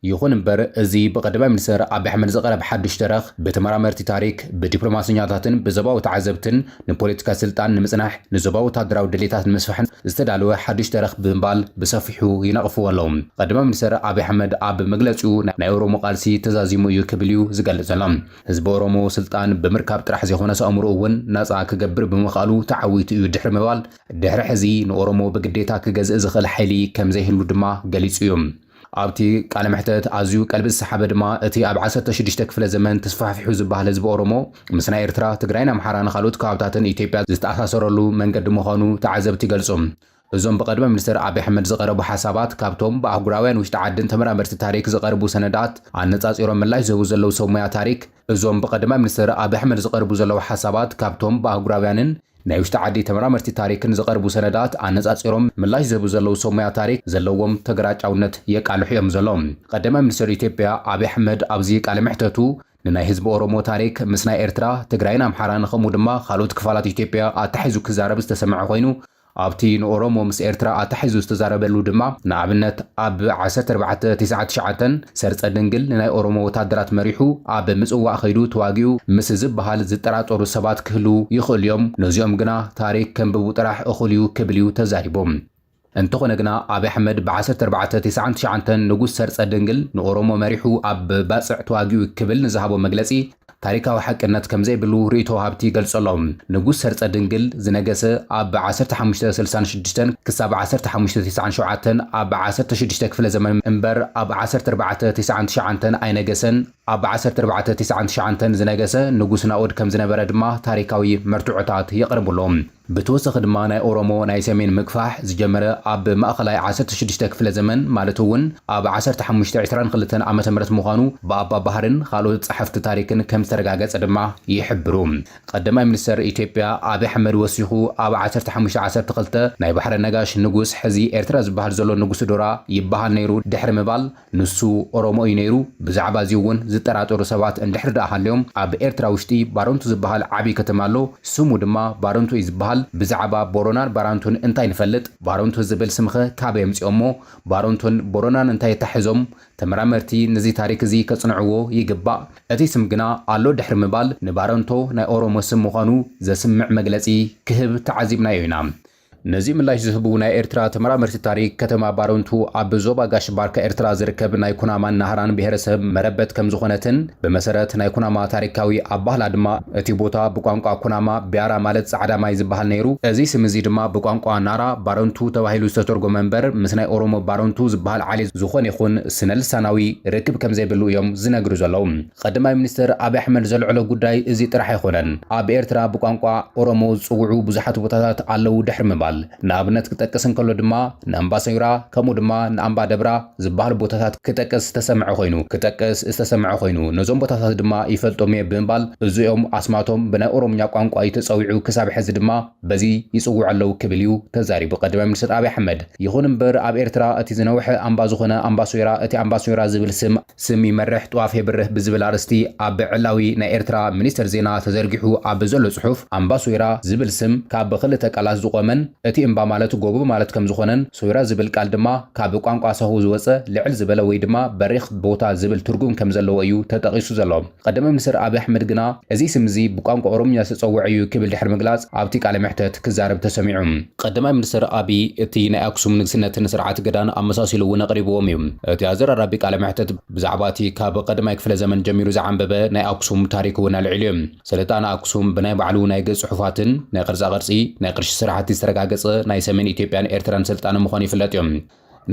Speaker 6: ይኹን እምበር፣ እዚ ብቀዳማይ ሚኒስተር ኣቢ ኣሕመድ ዝቐረብ ሓድሽ ተረኽ፣ ብተመራመርቲ ታሪክ፣ ብዲፕሎማሰኛታትን ብዞባዊ ተዓዘብትን፣ ንፖለቲካ ስልጣን ንምጽናሕ፣ ንዞባዊ ወተሃደራዊ ድሌታት ንምስፋሕን ዝተዳለወ ሓድሽ ተረኽ ብምባል ብሰፊሑ ይነቕፍዎ ኣለዉ። ቀዳማይ ሚኒስተር ኣብይ ኣሕመድ ኣብ መግለጺኡ ናይ ኦሮሞ ቃልሲ ተዛዚሙ እዩ ክብል እዩ ዝገልጽ ዘሎ። ህዝቢ ኦሮሞ ስልጣን ብምርካብ ጥራሕ ዘይኮነስ ኣእምሮኡ እውን ናጻ ክገብር ብምኽኣሉ ተዓዊቱ እዩ ድሕሪ ምባል ድሕሪ ሕዚ ንኦሮሞ ብግዴታ ክገዝእ ዝኽእል ሓይሊ ከምዘይህሉ ድማ ገሊጹ እዩ። ኣብቲ ቃለ መሕተት ኣዝዩ ቀልቢ ዝሰሓበ ድማ እቲ ኣብ ዓሰርተ ሽዱሽተ ክፍለ ዘመን ተስፋሕፊሑ ዝበሃል ህዝቢ ኦሮሞ ምስ ናይ ኤርትራ፣ ትግራይን ኣምሓራን ኻልኦት ከባብታትን ኢትዮጵያ ዝተኣሳሰረሉ መንገዲ ምዃኑ ተዓዘብቲ ይገልጹ። እዞም ብቐድመ ሚኒስተር ኣቢ ኣሕመድ ዝቐረቡ ሓሳባት ካብቶም ብኣህጉራውያን ውሽጢ ዓድን ተመራመርቲ ታሪክ ዝቐርቡ ሰነዳት ኣነጻጺሮም ምላሽ ዝህቡ ዘለዉ ሰብ ሞያ ታሪክ እዞም ብቐድመ ሚኒስተር ኣቢ ኣሕመድ ዝቐርቡ ዘለዉ ሓሳባት ካብቶም ብኣህጉራውያንን ናይ ውሽጢ ዓዲ ተመራመርቲ ታሪክ ንዝቐርቡ ሰነዳት ኣነጻጺሮም ምላሽ ዝህቡ ዘለዉ ሰብ ሞያ ታሪክ ዘለዎም ተገራጫውነት የቃልሑ እዮም ዘሎዉ። ቐዳማይ ሚኒስተር ኢትዮጵያ ኣብይ ኣሕመድ ኣብዚ ቃለ መሕተቱ ንናይ ህዝቢ ኦሮሞ ታሪክ ምስ ናይ ኤርትራ፣ ትግራይን ኣምሓራን ከምኡ ድማ ካልኦት ክፋላት ኢትዮጵያ ኣተሓሒዙ ክዛረብ ዝተሰምዐ ኮይኑ ኣብቲ ንኦሮሞ ምስ ኤርትራ ኣተሓሒዙ ዝተዛረበሉ ድማ ንኣብነት ኣብ ዓሰርተ ኣርባዕተ ትስዓት ትሽዓተን ሰርጸ ድንግል ንናይ ኦሮሞ ወታደራት መሪሑ ኣብ ምጽዋዕ ከይዱ ተዋጊኡ ምስ ዝበሃል ዝጠራጠሩ ሰባት ክህልዉ ይኽእሉ'ዮም፣ ነዚኦም ግና ታሪኽ ከንብቡ ጥራሕ እኹል'ዩ ክብል'ዩ ተዛሪቡ። እንተኾነ ግና ኣብይ ኣሕመድ ብ ዓሰርተ ኣርባዕተ ትስዓን ትሽዓንተን ንጉስ ሰርጸ ድንግል ንኦሮሞ መሪሑ ኣብ ባጽዕ ተዋጊኡ ክብል ንዝሃቦ መግለጺ ታሪካዊ ሓቅነት ከምዘይብሉ ርእይቶ ወሃብቲ ይገልጸሎ። ንጉስ ሰርጸ ድንግል፣ ዝነገሰ ኣብ ዓሰርተ ሓሙሽተ ስልሳን ሽዱሽተን ክሳብ ዓሰርተ ሓሙሽተ ቴስዓን ሸውዓተን፣ ኣብ ዓሰርተ ሽዱሽተ ክፍለ ዘመን እምበር ኣብ ዓሰርተ ኣርባዕተ ቴስዓን ትሽዓንተን ኣይነገሰን፣ ኣብ ዓሰርተ ኣርባዕተ ቴስዓን ትሽዓንተን ዝነገሰ ንጉስ ናኦድ ከምዝነበረ ድማ ታሪካዊ መርትዖታት የቕርብሉ። ብተወሰኺ ድማ ናይ ኦሮሞ ናይ ሰሜን ምግፋሕ ዝጀመረ ኣብ ማእኸላይ ዓሰርተ ሽዱሽተ ክፍለ ዘመን ማለት እውን ኣብ ዓሰርተ ሓሙሽተ ዕስራን ክልተን ዓመተ ምህረት ምዃኑ ብኣባ ባህርን ኻልኦት ፀሐፍቲ ታሪክን ከምዝተረጋገፀ ድማ ይሕብሩ ቐደማይ ሚኒስተር ኢትዮጵያ ኣብይ ኣሕመድ ወሲኹ ኣብ ዓሰርተ ሓሙሽተ ዓሰርተ ክልተ ናይ ባሕረ ነጋሽ ንጉስ ሕዚ ኤርትራ ዝበሃል ዘሎ ንጉስዶራ ይበሃል ነይሩ ድሕሪ ምባል ንሱ ኦሮሞ እዩ ነይሩ፣ ብዛዕባ እዚ እውን ዝጠራጠሩ ሰባት እንድሕር ደኣ ሃልዮም፣ ኣብ ኤርትራ ውሽጢ ባረንቱ ዝበሃል ዓብይ ከተማ ኣሎ፣ ስሙ ድማ ባረንቱ እዩ ዝበሃል፣ ብዛዕባ ቦረናን ባራንቱን እንታይ ንፈልጥ? ባረንቱ ዝብል ስምኸ ካበይ ኣምጺኦሞ? ባረንቱን ቦረናን እንታይ ኣተሓሕዞም? ተመራመርቲ ነዚ ታሪክ እዚ ከጽንዕዎ ይግባእ። እቲ ስም ግና ኣሎ ድሕሪ ምባል ንባረንቶ ናይ ኦሮሞ ስም ምዃኑ ዘስምዕ መግለጺ ክህብ ተዓዚብናዮ ኢና። ነዚ ምላሽ ዝህቡ ናይ ኤርትራ ተመራመርቲ ታሪክ፣ ከተማ ባረንቱ ኣብ ዞባ ጋሽ ባርካ ኤርትራ ዝርከብ ናይ ኩናማን ናህራን ብሄረሰብ መረበት ከምዝኾነትን ብመሰረት ናይ ኩናማ ታሪካዊ ኣባህላ ድማ እቲ ቦታ ብቋንቋ ኩናማ ቢያራ ማለት ጻዕዳ ማይ ዝበሃል ነይሩ እዚ ስም እዚ ድማ ብቋንቋ ናራ ባረንቱ ተባሂሉ ዝተተርጎመ እምበር ምስ ናይ ኦሮሞ ባረንቱ ዝበሃል ዓሌት ዝኾነ ይኹን ስነልሳናዊ ርክብ ከምዘይብሉ እዮም ዝነግሩ ዘለዉ። ቐዳማይ ሚኒስትር ኣብይ ኣሕመድ ዘልዐሎ ጉዳይ እዚ ጥራሕ ኣይኾነን። ኣብ ኤርትራ ብቋንቋ ኦሮሞ ዝጽውዑ ብዙሓት ቦታታት ኣለዉ ድሕሪ ምባል፣ ንኣብነት ክጠቅስ እንከሎ ድማ ንኣምባሰይራ ከምኡ ድማ ንኣምባ ደብራ ዝበሃሉ ቦታታት ክጠቅስ ዝተሰምዐ ኮይኑ ክጠቅስ ዝተሰምዐ ኮይኑ ነዞም ቦታታት ድማ ይፈልጦም'የ ብምባል እዚኦም ኣስማቶም ብናይ ኦሮምኛ ቋንቋ እዩ ተጸዊዑ ክሳብ ሕዚ ድማ በዚ ይጽውዑ ኣለዉ ክብል እዩ ተዛሪቡ ቐዳማይ ሚኒስትር ኣብይ ኣሕመድ። ይኹን'ምበር ኣብ ኤርትራ እቲ ዝነውሐ ኣምባ ዝኾነ ኣምባሶይራ እቲ ኣምባሶይራ ዝብል ስም ስም ይመርሕ ጥዋፍ የብርህ ብዝብል ኣርእስቲ ኣብ ዕላዊ ናይ ኤርትራ ሚኒስተር ዜና ተዘርጊሑ ኣብ ዘሎ ጽሑፍ፣ ኣምባ ሶይራ ዝብል ስም ካብ ክልተ ቃላት ዝቖመን እቲ እምባ ማለት ጎቦ ማለት ከም ዝኾነን ሶይራ ዝብል ቃል ድማ ካብ ቋንቋ ሳሆ ዝወጸ ልዕል ዝበለ ወይ ድማ በሪኽ ቦታ ዝብል ትርጉም ከም ዘለዎ እዩ ተጠቒሱ ዘሎ። ቐዳማይ ሚኒስተር ኣብይ ኣሕመድ ግና እዚ ስም እዚ ብቋንቋ ኦሮምኛ ዝተጸውዐ እዩ ክብል ድሕሪ ምግላጽ ኣብቲ ቃለ መሕተት ክዛረብ ተሰሚዑ። ቐዳማይ ሚኒስተር ኣብይ እቲ ናይ ኣክሱም ንግስነትን ስርዓት ገዳን ኣመሳሲሉ እውን ኣቕሪብዎም እዩ። እቲ ኣዘራራቢ ቃለ መሕተት ብዛዕባ እቲ ካብ ቐዳማይ ክፍለ ዘመን ጀሚሩ ዝዓምበበ ናይ ኣክሱም ታሪክ እውን ኣልዒሉ እዩ። ስልጣነ ኣክሱም ብናይ ባዕሉ ናይ ገጽ ጽሑፋትን ናይ ቕርጻ ቕርጺ፣ ናይ ቕርሺ ስራሕቲ ዝተረጋገጸ ናይ ሰሜን ኢትዮጵያን ኤርትራን ስልጣነ ምዃኑ ይፍለጥ እዩ።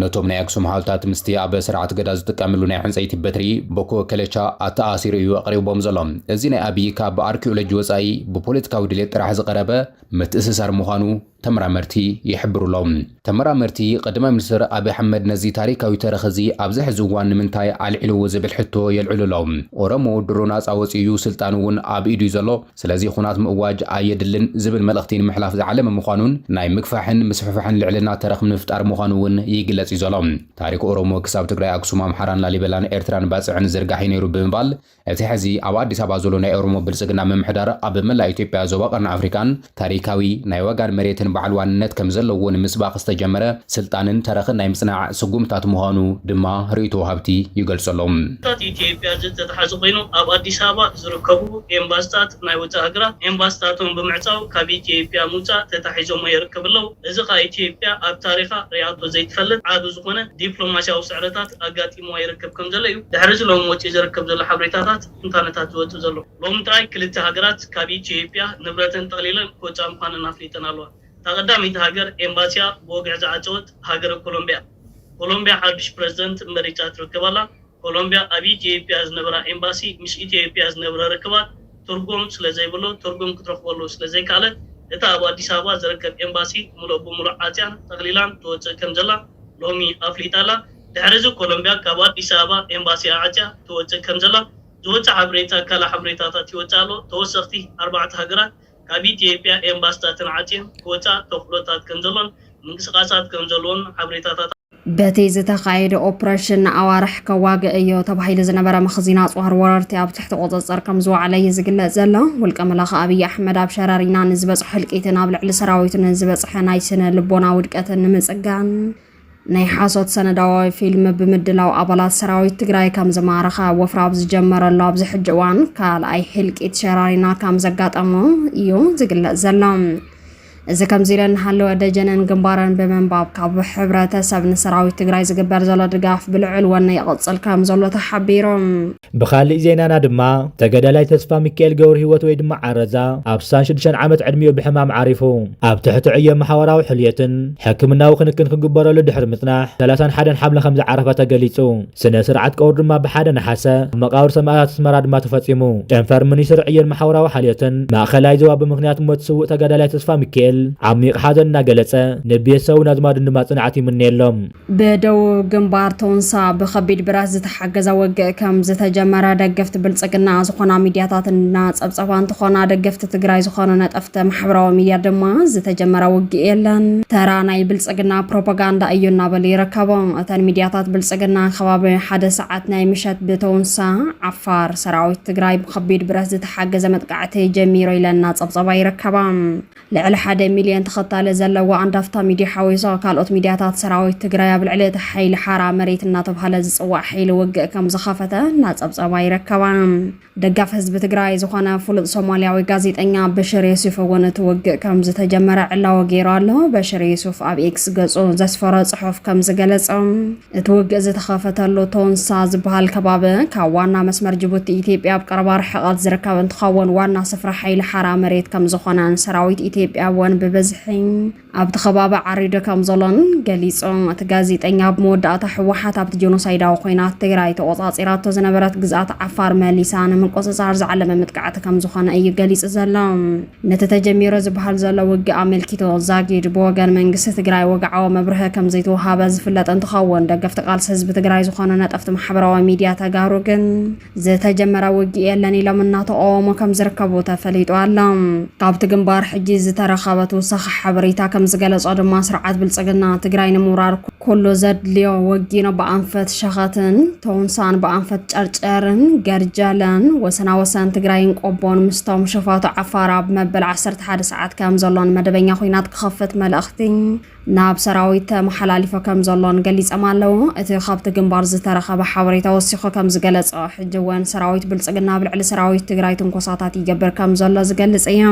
Speaker 6: ነቶም ናይ ኣክሱም ሓውልታት ምስቲ ኣብ ስርዓት ገዳ ዝጥቀምሉ ናይ ዕንጸይቲ በትሪ፣ ቦኮ ከለቻ፣ ኣተኣኣሲሩ እዩ ኣቕሪብዎም ዘሎ። እዚ ናይ ኣብዪ ካብ ኣርኪኦሎጂ ወጻኢ ብፖለቲካዊ ድሌት ጥራሕ ዝቐረበ ምትእስሳር ምዃኑ ተመራመርቲ ይሕብሩ ኣለው። ተመራመርቲ፣ ቀዳማይ ሚኒስትር ኣብዪ ኣሕመድ ነዚ ታሪካዊ ተረኽ እዚ ኣብዚ ሕዚ እዋን ንምንታይ ኣልዒልዎ ዝብል ሕቶ የልዕሉ ኣለው። ኦሮሞ ድሮ ናጻ ወጺኡ እዩ፣ ስልጣን እውን ኣብ ኢዱ እዩ ዘሎ። ስለዚ ኹናት ምእዋጅ ኣየድልን ዝብል መልእኽቲ ንምሕላፍ ዝዓለመ ምዃኑን ናይ ምግፋሕን ምስፍሕፋሕን ልዕልና ተረኽ ንምፍጣር ምዃኑ እውን ይግለጽ እዩ ዘሎ። ታሪኽ ኦሮሞ ክሳብ ትግራይ ኣክሱም ኣምሓራን ላሊበላን ኤርትራን ባጽዕን ዝርጋሕ እዩ ነይሩ ብምባል እቲ ሕዚ ኣብ ኣዲስ ኣበባ ዘሎ ናይ ኦሮሞ ብልጽግና ምምሕዳር ኣብ መላእ ኢትዮጵያ ዞባ ቀርኒ ኣፍሪቃን ታሪካዊ ናይ ዋጋን መሬትን በዓል ዋንነት ከምዘለዎ ንምስባኽ ዝተጀመረ ስልጣንን ተረኽን ናይ ምጽናዕ ስጉምትታት ምዃኑ ድማ ርእይቶ ወሃብቲ ይገልጹ ኣለዉ። ታት ኢትዮጵያ ዘተተሓዘ
Speaker 13: ኮይኑ ኣብ ኣዲስ ኣበባ ዝርከቡ ኤምባስታት ናይ ወጻኢ ሃገራት ኤምባስታቶም ብምዕጻው ካብ ኢትዮጵያ ምውጻእ ተታሒዞሞ የርክብ ኣለው። እዚ ከኣ ኢትዮጵያ ኣብ ታሪኻ ሪኣቶ ዘይትፈልጥ ዓቢ ዝኾነ ዲፕሎማሲያዊ ስዕረታት ኣጋጢምዋ ይርክብ ከም ዘሎ እዩ ድሕሪ እዚ ሎሚ ወጺኡ ዝርክብ ዘሎ ሓብሬታታት ትንታነታት ዝወጽእ ዘሎ። ሎሚ ጥራይ ክልተ ሃገራት ካብ ኢትዮጵያ ንብረተን ጠቕሊለን ክወጻ ምዃነን ኣፍሊጠን ኣለዋ። እታ ቀዳመይቲ ሃገር ኤምባሲኣ ብወግዒ ዝዓጸወት ሃገረ ኮሎምቢያ እያ። ኮሎምቢያ ሓዱሽ ፕረዚደንት መሪጻ ትርክብ ኣላ። ኮሎምቢያ ኣብ ኢትዬጵያ ዝነበራ ኤምባሲ ምስ ኢትዬጵያ ዝነብረ ርክባት ትርጉም ስለዘይብሉ ትርጉም ክትረኽበሉ ስለዘይከኣለት እታ ኣብ ኣዲስ ኣበባ ዝርከብ ኤምባሲ ሙሉእ ብሙሉእ ዓፅያን ጠቕሊላን ትወፅእ ከምዘላ ሎሚ ኣፍሊጣ ኣላ። ድሕሪ እዚ ኮሎምቢያ ካብ ኣዲስ ኣበባ ኤምባሲኣ ዓፅያ ትወፅእ ከምዘላ ዝወፅእ ሓበሬታ ካልእ ሓበሬታታት ይወፅእ ኣሎ። ተወሰኽቲ ኣርባዕተ ሃገራት ካብ ኢትዮጵያ ኤምባስታትን ዓፅየን ክወፃ ተኽእሎታት ከምዘሎን ምንቅስቓሳት ከምዘለዎን ሓበሬታታት በቲ
Speaker 3: ዝተኻየደ ኦፕረሽን ንኣዋርሕ ከዋግእ እዮ ተባሂሉ ዝነበረ መኽዚን ኣፅዋር ወረርቲ ኣብ ትሕቲ ቁፅፅር ከም ዝወዓለ እዩ ዝግለፅ ዘሎ። ውልቀ መላኺ ኣብይ ኣሕመድ ኣብ ሸረሪና ንዝበፅሖ ህልቂትን ኣብ ልዕሊ ሰራዊቱ ንዝበፅሐ ናይ ስነ ልቦና ውድቀትን ንምፅጋን ናይ ሓሶት ሰነዳዊ ፊልም ብምድላው ኣባላት ሰራዊት ትግራይ ከም ዝማረኸ ወፍራ ኣብ ዝጀመረሉ ኣብዚ ሕጂ እዋን ካልኣይ ህልቂት ሸራሪና ከም ዘጋጠሞ እዩ ዝግለጽ ዘሎ። እዚ ከምዚ ኢለ እናሃለወ ደጀንን ግንባርን ብምንባብ ካብ ሕብረተሰብ ንሰራዊት ትግራይ ዝግበር ዘሎ ድጋፍ ብልዑል ወነ ይቕፅል ከም ዘሎ ተሓቢሩ። ብኻሊእ
Speaker 10: ዜናና ድማ ተገዳላይ ተስፋሚካኤል ገብርሂወት ወይ ድማ ዓረዛ ኣብ ስሳን ሽዱሽተን ዓመት ዕድሚኡ ብሕማም ዓሪፉ። ኣብ ትሕቲ ዕዮ መሓወራዊ ሕልየትን ሕክምናዊ ክንክን ክግበረሉ ድሕሪ ምጽናሕ ሰላሳን ሓደን ሓምለ ከምዝዓረፈ ተገሊጹ። ስነ ስርዓት ቀብሩ ድማ ብ ሓደ ነሓሰ ኣብ መቓብር ሰማእታት ኣስመራ ድማ ተፈጺሙ። ጨንፈር ሚኒስትሪ ዕዮን መሓውራዊ ሓልዮትን ማእኸላይ ዞባ ብምኽንያት ሞት ስውእ ተጋዳላይ ተስፋሚካኤል ዓሚቕ ሓዘን እናገለጸ ንቤተሰቡን ኣዝማዱን ድማ ጽንዓት ይምነየሎም። ብደቡብ
Speaker 3: ግንባር ቶንሳ ብከቢድ ብረት ዝተሓገዘ ውግእ ከም ዝተጀመረ ደገፍቲ ብልፅግና ዝኾና ሚዲያታት እናፀብፀባ እንትኾና ደገፍቲ ትግራይ ዝኾኑ ነጠፍቲ ማሕበራዊ ሚዲያ ድማ ዝተጀመረ ውግእ የለን ተራ ናይ ብልፅግና ፕሮፓጋንዳ እዩ እናበሉ ይርከቡ። እተን ሚዲያታት ብልፅግና ከባቢ ሓደ ሰዓት ናይ ምሸት ብተውንሳ ዓፋር ሰራዊት ትግራይ ብከቢድ ብረት ዝተሓገዘ መጥቃዕቲ ጀሚሩ ኢለን እናፀብፀባ ይርከባ። ልዕሊ ሓደ ሚልዮን ተኸታሊ ዘለዋ ኣንዳፍታ ሚድያ ሓዊሱ ካልኦት ሚድያታት ሰራዊት ትግራይ ኣብ ልዕሊ እቲ ሓይሊ ሓራ መሬት እናተብሃለ ዝፅዋዕ ሓይሊ ውግእ ከምዝኸፈተ እናፀብፀባ ይርከባ። ደጋፊ ህዝቢ ትግራይ ዝኾነ ፍሉጥ ሶማልያዊ ጋዜጠኛ በሽር የሱፍ እውን እቲ ውግእ ከምዝተጀመረ ዕላዊ ገይሩ ኣሎ። በሽር የሱፍ ኣብ ኤክስ ገፁ ዘስፈሮ ፅሑፍ ከምዝገለፆ፣ እቲ ውግእ ዝተኸፈተሉ ቶንሳ ዝበሃል ከባቢ ካብ ዋና መስመር ጅቡቲ ኢትዮጵያ ኣብ ቀረባ ርሕቐት ዝርከብ እንትኸውን ዋና ስፍራ ሓይሊ ሓራ መሬት ከም ዝኾነን ሰራዊት ኢትዮጵያ እውን ብብዝሒ ኣብቲ ከባቢ ዓሪዱ ከም ዘሎን ገሊጹ። እቲ ጋዜጠኛ ኣብ መወዳእታ ህወሓት ኣብቲ ጀኖሳይዳዊ ኮይናት ትግራይ ተቖጻጺራቶ ዝነበረት ግዝኣት ዓፋር መሊሳ ንምቁጽጻር ዝዓለመ መጥቃዕቲ ከም ዝኾነ እዩ ገሊጹ ዘሎ። ነቲ ተጀሚሩ ዝበሃል ዘሎ ውግእ ኣመልኪቱ ዛጊድ ብወገን መንግስቲ ትግራይ ወግዓዊ መብርሀ ከምዘይተውሃበ ዝፍለጥ እንትኸውን ደገፍቲ ቃልሲ ህዝቢ ትግራይ ዝኾኑ ነጠፍቲ ማሕበራዊ ሚዲያ ተጋሩ ግን ዝተጀመረ ውግእ የለን ኢሎም እናተቃወሙ ከምዝርከቡ ተፈሊጡ ኣሎ። ካብቲ ግንባር ሕጂ ዝተረኸበ ትውሳኺ ሓበሬታ ከምዝገለፆ ድማ ስርዓት ብልፅግና ትግራይ ንምውራር ኩሉ ዘድልዮ ወጊኖ ብኣንፈት ሸኸትን ቶንሳን ብኣንፈት ጨርጨርን ገርጀለን ወሰና ወሰን ትግራይን ቆቦን ምስቶም ሸፋቱ ዓፋር ኣብ መበል 11 ሰዓት ከም ዘሎን መደበኛ ኩናት ክኸፍት መልእኽቲ ናብ ሰራዊት ተመሓላሊፎ ከም ዘሎን ገሊፆም ኣለዉ። እቲ ካብቲ ግንባር ዝተረኸበ ሓበሬታ ወሲኹ ከም ዝገለፆ ሕጂ እውን ሰራዊት ብልፅግና ኣብ ልዕሊ ሰራዊት ትግራይ ትንኮሳታት ይገብር ከም ዘሎ ዝገልፅ እዩ።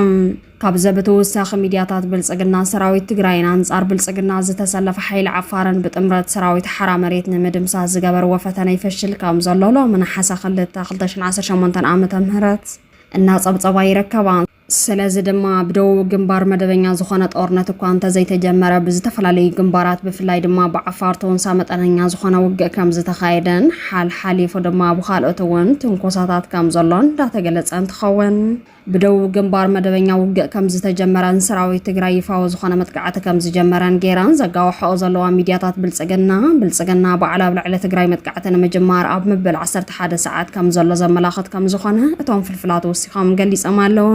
Speaker 3: ካብዚ ብተወሳኺ ሚድያታት ብልፅግና ሰራዊት ትግራይን ኣንፃር ብልፅግና ዝተሰለፈ ሓይሊ ዓፋርን ብጥምረት ሰራዊት ሓራ መሬት ንምድምሳስ ዝገበርዎ ፈተነ ይፈሽል ከም ዘሎ ሎሚ ነሓሰ ክልተ ክልተ ሽሕን ዓሰርተ ሸሞንተን ዓመተ ምህረት እናፀብፀባ ይርከባ። ስለዚ ድማ ብደቡብ ግንባር መደበኛ ዝኾነ ጦርነት እኳ እንተዘይተጀመረ ብዝተፈላለዩ ግንባራት ብፍላይ ድማ ብዓፋር ተወንሳ መጠነኛ ዝኾነ ውግእ ከም ዝተኻየደን ሓልሓሊፉ ድማ ብኻልኦት እውን ትንኮሳታት ከም ዘሎን እንዳተገለፀ እንትኸውን ብደቡብ ግንባር መደበኛ ውግእ ከም ዝተጀመረን ሰራዊት ትግራይ ይፋዊ ዝኾነ መጥቃዕቲ ከም ዝጀመረን ጌረን ዘጋውሐኦ ዘለዋ ሚድያታት ብልፅግና፣ ብልፅግና ባዕሉ ኣብ ልዕሊ ትግራይ መጥቃዕቲ ንምጅማር ኣብ ምብል ዓሰርተ ሓደ ሰዓት ከም ዘሎ ዘመላኽት ከም ዝኾነ እቶም ፍልፍላት ወሲኾም ገሊፆም ኣለው።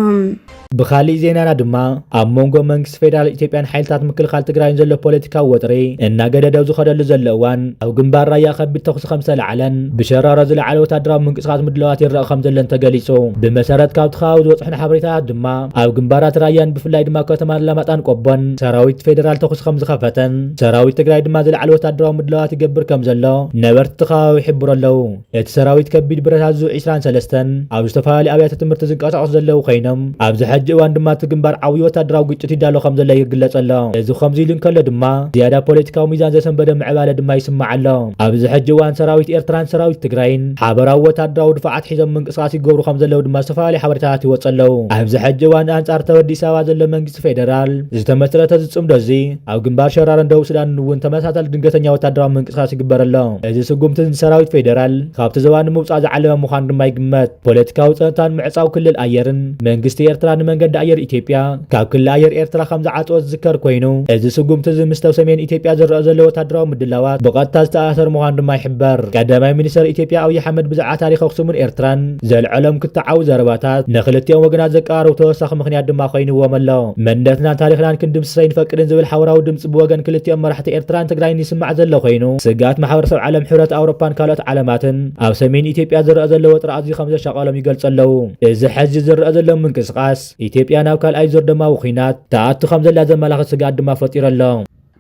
Speaker 3: ብኻሊእ
Speaker 10: ዜናና ድማ ኣብ መንጎ መንግስቲ ፌደራል ኢትዮጵያን ሓይልታት ምክልኻል ትግራይን ዘሎ ፖለቲካዊ ወጥሪ እናገደደው ዝኸደሉ ዘሎ እዋን ኣብ ግንባር ራያ ከቢድ ተኹሲ ርእሲ ከምዝተላዕለን ብሸራሮ ዝለዓለ ወታደራዊ ምንቅስቓስ ምድላዋት ይረኣ ከምዘሎን ተገሊጹ። ብመሰረት ካብቲ ከባቢ ዝበጽሑና ሓበሬታታት ድማ ኣብ ግንባራት ራያን ብፍላይ ድማ ከተማ ኣላማጣን ቆቦን ሰራዊት ፌደራል ተኹሲ ከምዝኸፈተን ሰራዊት ትግራይ ድማ ዝለዓለ ወታደራዊ ምድላዋት ይገብር ከምዘሎ ነበርቲ እቲ ከባቢ ይሕብሩ ኣለው። እቲ ሰራዊት ከቢድ ብረት ኣዙ ዒስራን ሰለስተን ኣብ ዝተፈላለዩ ኣብያተ ትምህርቲ ዝንቀሳቐሱ ዘለው ኮይኖም ኣብዚ ሕጂ እዋን ድማ እቲ ግንባር ዓብዩ ወታደራዊ ግጭት ይዳሎ ከምዘሎ ይግለጽ ኣሎ። እዚ ከምዚ ኢሉ እንከሎ ድማ ዝያዳ ፖለቲካዊ ሚዛን ዘሰንበደ ምዕባለ ድማ ይስማዕ ኣሎ። ኣብዚ ሕጂ እዋን ሰራዊት ኤርትራን ሰራዊት ትግራይን ሓበራዊ ወታደራዊ ድፋዓት ሒዞም ምንቅስቓስ ይገብሩ ከምዘለዉ ድማ ዝተፈላለዩ ሓበሬታታት ይወጽ ኣለዉ። ኣብዚ ሕጂ እዋን ኣንጻር እተብ ኣዲስ ኣበባ ዘሎ መንግስቲ ፌደራል ዝተመስረተ እዚ ጽምዶ እዚ ኣብ ግንባር ሸራሮን ደቡብ ሱዳንን እውን ተመሳሳሊ ድንገተኛ ወታደራዊ ምንቅስቓስ ይግበር ኣሎ። እዚ ስጉምቲ እዚ ንሰራዊት ፌደራል ካብቲ ዞባ ንምውጻእ ዝዓለመ ምዃኑ ድማ ይግመት። ፖለቲካዊ ጸጥታን ምዕጻው ክልል ኣየርን፣ መንግስቲ ኤርትራ ንመንገዲ ኣየር ኢትዮጵያ፣ ካብ ክሊ ኣየር ኤርትራ ከም ዝዓጸወ ዝዝከር ኮይኑ፣ እዚ ስጉምቲ እዚ ምስቲ ኣብ ሰሜን ኢትዮጵያ ዝረኣ ዘሎ ወተሃደራዊ ምድላዋት ብቐጥታ ዝተኣሳሰር ምዃኑ ድማ ይሕበር። ቀዳማይ ሚኒስተር ኢትዮጵያ ኣብይ ኣሕመድ ብዛዕባ ታሪኽ ኣክሱምን ኤርትራን ዘልዐሎም ክትዓዊ ዘረባታት ንክልቲኦም ወገናት ዘቀራርቡ ተወሳኺ ምኽንያት ድማ ኮይንዎም ኣሎ። መንነትናን ታሪኽናን ክንድምስስ ኣይንፈቅድን ዝብል ሓበራዊ ድምጺ ብወገን ክልቲኦም መራሕቲ ኤርትራን ትግራይን ይስማዕ ዘሎ ኮይኑ፣ ስግኣት ማሕበረሰብ ዓለም፣ ሕብረት ኣውሮፓን ካልኦት ዓለማትን ኣብ ሰሜን ኢትዮጵያ ዝረኣ ዘሎ ወጥሪ ኣዝዩ ከም ዘሻቐሎም ይገልጹ ኣለዉ። እዚ ሕዚ ዝረኣ ዘሎ ምንቅስቓስ፣ ኢትዮጵያ ናብ ካልኣይ ዙር ደማዊ ኹናት ትኣቱ ከምዘላ ዘመላኽት ስግኣት ድማ ፈጢሩ ኣሎ።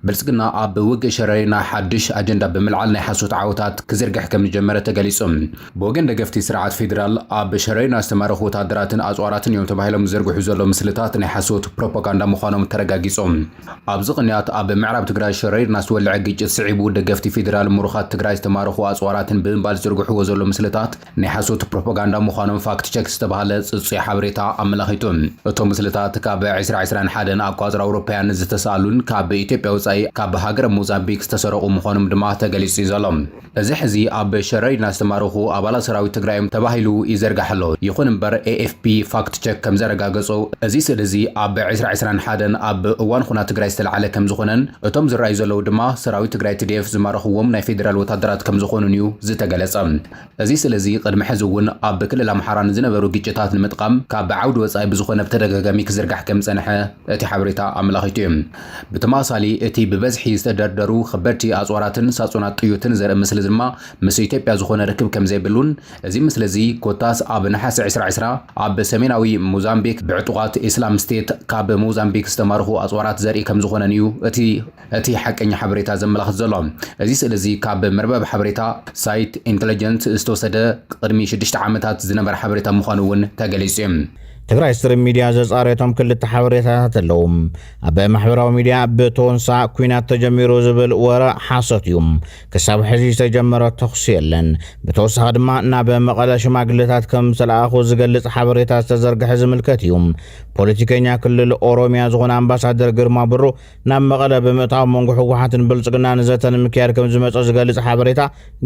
Speaker 10: ብልፅግና
Speaker 6: ኣብ ውግእ ሸረሪና ሓዱሽ ኣጀንዳ ብምልዓል ናይ ሓሶት ዓወታት ክዝርግሕ ከምዝጀመረ ተገሊፁ። ብወገን ደገፍቲ ስርዓት ፌዴራል ኣብ ሸረሪና ዝተማረኹ ወታደራትን ኣፅዋራትን እዮም ተባሂሎም ዝዝርግሑ ዘለዉ ምስልታት ናይ ሓሶት ፕሮፓጋንዳ ምዃኖም ተረጋጊፁ። ኣብዚ ቅንያት ኣብ ምዕራብ ትግራይ ሸረሪና ዝተወልዐ ግጭት ስዒቡ ደገፍቲ ፌዴራል ምሩኻት ትግራይ ዝተማረኹ ኣፅዋራትን ብምባል ዝዝርግሕዎ ዘለዉ ምስልታት ናይ ሓሶት ፕሮፖጋንዳ ምዃኖም ፋክት ቸክ ዝተባህለ ጽጹይ ሓበሬታ ኣመላኺቱ። እቶም ምስልታት ካብ ዕስራ ዕስራን ሓደን ኣቋጽራ ኣውሮፓያን ዝተሳእሉን ካብ ኢትዮጵያ ወጻኢ ካብ ሃገረ ሞዛምቢክ ዝተሰረቑ ምዃኖም ድማ ተገሊጹ እዩ ዘሎ። እዚ ሕዚ ኣብ ሸረሪና ዝተማረኹ ኣባላት ሰራዊት ትግራይ እዮም ተባሂሉ ይዘርጋሕ ኣሎ። ይኹን እምበር ኤኤፍፒ ፋክት ቸክ ከምዘረጋገጾ እዚ ስእሊ እዚ ኣብ ዕስራ ዕስራን ሓደን ኣብ እዋን ኹናት ትግራይ ዝተልዓለ ከምዝኾነን እቶም ዝረኣዩ ዘለዉ ድማ ሰራዊት ትግራይ፣ ትዲኤፍ፣ ዝማረኹዎም ናይ ፌደራል ወታደራት ከምዝኾኑን እዩ ዝተገለጸ። እዚ ስለዚ ቅድሚ ሕዚ እውን ኣብ ክልል ኣምሓራ ንዝነበሩ ግጭታት ንምጥቓም ካብ ብዓውዲ ወፃኢ ብዝኾነ ብተደጋጋሚ ክዝርጋሕ ከምዝፀንሐ እቲ ሓበሬታ ኣመላኺቱ እዩ። ብተመሳሳሊ እቲ ብበዝሒ ዝተደርደሩ ኸበድቲ ኣፅዋራትን ሳፁናት ጥዩትን ዘርኢ ምስሊ ድማ ምስ ኢትዮጵያ ዝኾነ ርክብ ከምዘይብሉን እዚ ምስሊ እዚ ኮታስ ኣብ ነሓሰ ዕስራ ዕስራ ኣብ ሰሜናዊ ሞዛምቢክ ብዕጡቓት ኢስላም ስቴት ካብ ሞዛምቢክ ዝተማረኹ ኣፅዋራት ዘርኢ ከምዝኾነን እዩ እቲ እቲ ሓቀኛ ሓበሬታ ዘመላኽት ዘሎ፣ እዚ ስእሊ እዚ ካብ መርበብ ሓበሬታ ሳይት ኢንተለጀንስ ዝተወሰደ ቅድሚ ሽዱሽተ ዓመታት ዝነበረ ሓበሬታ ምዃኑ እውን ተገሊፁ እዩ። ትግራይ ስትሪም
Speaker 2: ሚድያ ዘፃረየቶም ክልተ ሓበሬታታት ኣለዉ። ኣብ ማሕበራዊ ሚድያ ብቶንሳ ኲናት ተጀሚሩ ዝብል ወረ ሓሶት እዩ። ክሳብ ሕዚ ዝተጀመረ ተኹሲ የለን። ብተወሳኺ ድማ ናብ መቐለ ሽማግለታት ከም ዝተለኣኹ ዝገልፅ ሓበሬታ ዝተዘርግሐ ዝምልከት እዩ። ፖለቲከኛ ክልል ኦሮሚያ ዝኾነ ኣምባሳደር ግርማ ብሩ ናብ መቐለ ብምእታው መንጎ ህወሓትን ብልፅግናን ዘተ ንምክያድ ከም ዝመፀ ዝገልፅ ሓበሬታ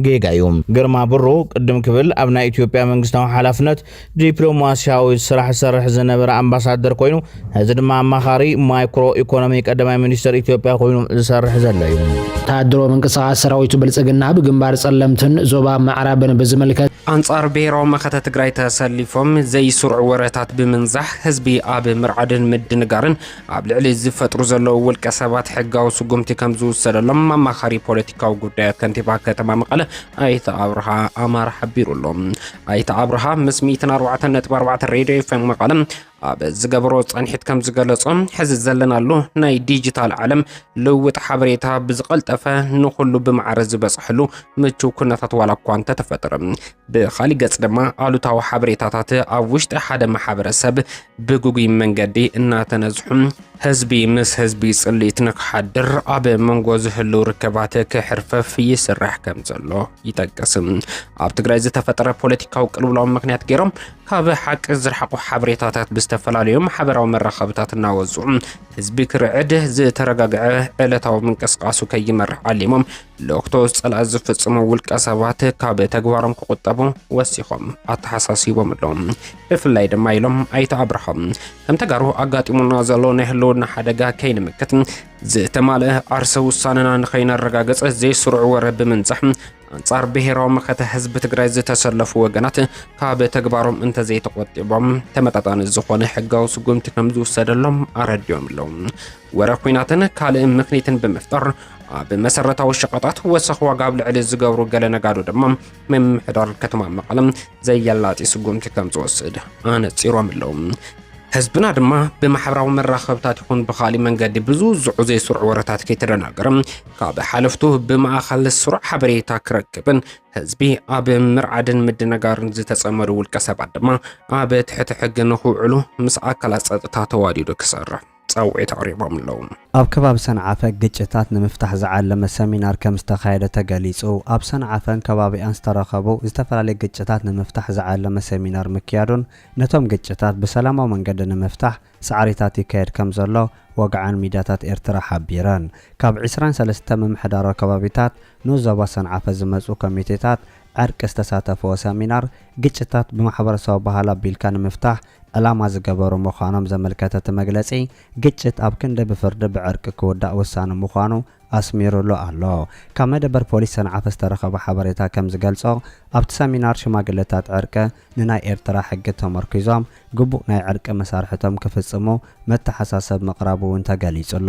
Speaker 2: ጌጋ እዩ። ግርማ ብሩ ቅድም ክብል ኣብ ናይ ኢትዮጵያ መንግስታዊ ሓላፍነት ዲፕሎማሲያዊ ስራሕ ዝሰርሕ ዝነበረ ኣምባሳደር ኮይኑ ሕዚ ድማ ኣማኻሪ ማይክሮ ኢኮኖሚ ቀዳማይ ሚኒስትር ኢትዮጵያ ኮይኑ ዝሰርሕ ዘሎ እዩ። ወታደሮ ምንቅስቓስ
Speaker 5: ሰራዊቱ ብልፅግና ብግንባር ፀለምትን ዞባ ምዕራብን ብዝምልከት ኣንጻር ብሔራዊ
Speaker 4: መኸተ ትግራይ ተሰሊፎም ዘይስሩዕ ወረታት ብምንዛሕ ህዝቢ ኣብ ምርዓድን ምድንጋርን ኣብ ልዕሊ ዝፈጥሩ ዘለዉ ውልቀ ሰባት ሕጋዊ ስጉምቲ ከም ዝውሰደሎም ኣማኻሪ ፖለቲካዊ ጉዳያት ከንቲባ ከተማ መቐለ ኣይተ ኣብርሃ ኣማር ሓቢሩ ኣሎ። ኣይተ ኣብርሃ ምስ 104.4 ሬድዮ ኤፍኤም መቐለ ኣብ ዝገበሮ ፃንሒት ከም ዝገለጾ ሕዚ ዘለናሉ ናይ ዲጂታል ዓለም ልውጥ ሓበሬታ ብዝቐልጠፈ ንኹሉ ብማዕረ ዝበፅሐሉ ምቹው ኩነታት ዋላ እኳ እንተተፈጠረ ብኻሊእ ገፅ ድማ ኣሉታዊ ሓበሬታታት ኣብ ውሽጢ ሓደ ማሕበረሰብ ብግጉይ መንገዲ እናተነዝሑ ህዝቢ ምስ ህዝቢ ፅልኢት ንክሓድር ኣብ መንጎ ዝህልው ርከባት ክሕርፈፍ ይስራሕ ከም ዘሎ ይጠቅስ። ኣብ ትግራይ ዝተፈጠረ ፖለቲካዊ ቅልውላው ምክንያት ገይሮም ካብ ሓቂ ዝረሓቑ ሓበሬታታት ብዝተፈላለዩ ማሕበራዊ መራኸብታት እናወፁ ህዝቢ ክርዕድ ዝተረጋግዐ ዕለታዊ ምንቅስቃሱ ከይመርሕ ዓሊሞም ልእኽቶስ ጸላኢ ዝፍጽሙ ውልቀ ሰባት ካብ ተግባሮም ክቑጠቡ ወሲኾም ኣተሓሳሲቦም ኣሎም። ብፍላይ ድማ ኢሎም ኣይተ ኣብርሃም ከም ተጋሩ ኣጋጢሙና ዘሎ ናይ ህልውና ሓደጋ ከይንምክት ዝተማልአ ዓርሰ ውሳነና ንኸይነረጋገጽ ዘይስሩዕ ወረ ብምንዛሕ ኣንጻር ብሔራዊ መኸተ ህዝቢ ትግራይ ዝተሰለፉ ወገናት ካብ ተግባሮም እንተዘይተቆጢቦም ተመጣጣኒ ዝኾነ ሕጋዊ ስጉምቲ ከም ዝውሰደሎም ኣረዲኦም ኣለዉ። ወረ ኩናትን ካልእ ምኽኒትን ብምፍጣር ኣብ መሰረታዊ ሸቐጣት ወሰኽ ዋጋ ኣብ ልዕሊ ዝገብሩ ገለ ነጋዶ ድማ ምምሕዳር ከተማ መቐለ ዘየላጢ ስጉምቲ ከም ዝወስድ ኣነጺሮም ኣለዉ። ህዝብና ድማ ብማሕበራዊ መራኸብታት ይኹን ብኻሊእ መንገዲ ብዝውዝዑ ዘይስሩዕ ወረታት ከይተደናገረ ካብ ሓለፍቱ ብማእኸል ስሩዕ ሓበሬታ ክረክብን ህዝቢ ኣብ ምርዓድን ምድንጋርን ዝተጸመዱ ውልቀ ሰባት ድማ ኣብ ትሕቲ ሕጊ ንክውዕሉ ምስ ኣካላት ጸጥታ ተዋዲዱ ክሰርሕ ፃውዒት ኣቕሪቦም ኣለው። ኣብ ከባቢ ሰንዓፈ
Speaker 1: ግጭታት ንምፍታሕ ዝዓለመ ሰሚናር ከምዝተኻየደ ተገሊፁ። ኣብ ሰንዓፈን ከባቢኣን ዝተረኸቡ ዝተፈላለዩ ግጭታት ንምፍታሕ ዝዓለመ ሰሚናር ምክያዱን ነቶም ግጭታት ብሰላማዊ መንገዲ ንምፍታሕ ፃዕሪታት ይካየድ ከምዘሎ ወግዓን ሚድያታት ኤርትራ ሓቢረን። ካብ ዕስራን ሰለስተ ምምሕዳራዊ ከባቢታት ንዞባ ሰንዓፈ ዝመጹ ኮሚቴታት ዕርቂ ዝተሳተፍዎ ሰሚናር፣ ግጭታት ብማሕበረሰባዊ ባህሊ ኣቢልካ ንምፍታሕ ዕላማ ዝገበሩ ምዃኖም ዘመልከተ እቲ መግለጺ፣ ግጭት ኣብ ክንዲ ብፍርዲ ብዕርቂ ክውዳእ ወሳኒ ምዃኑ ኣስሚሩሉ ኣሎ። ካብ መደበር ፖሊስ ሰንዓፈ ዝተረኸበ ሓበሬታ ከም ዝገልጾ፣ ኣብቲ ሰሚናር ሽማግለታት ዕርቂ ንናይ ኤርትራ ሕጊ ተመርኲዞም ግቡእ ናይ ዕርቂ መሳርሕቶም ክፍጽሙ መተሓሳሰብ ምቕራቡ'ውን ተገሊጹ'ሎ።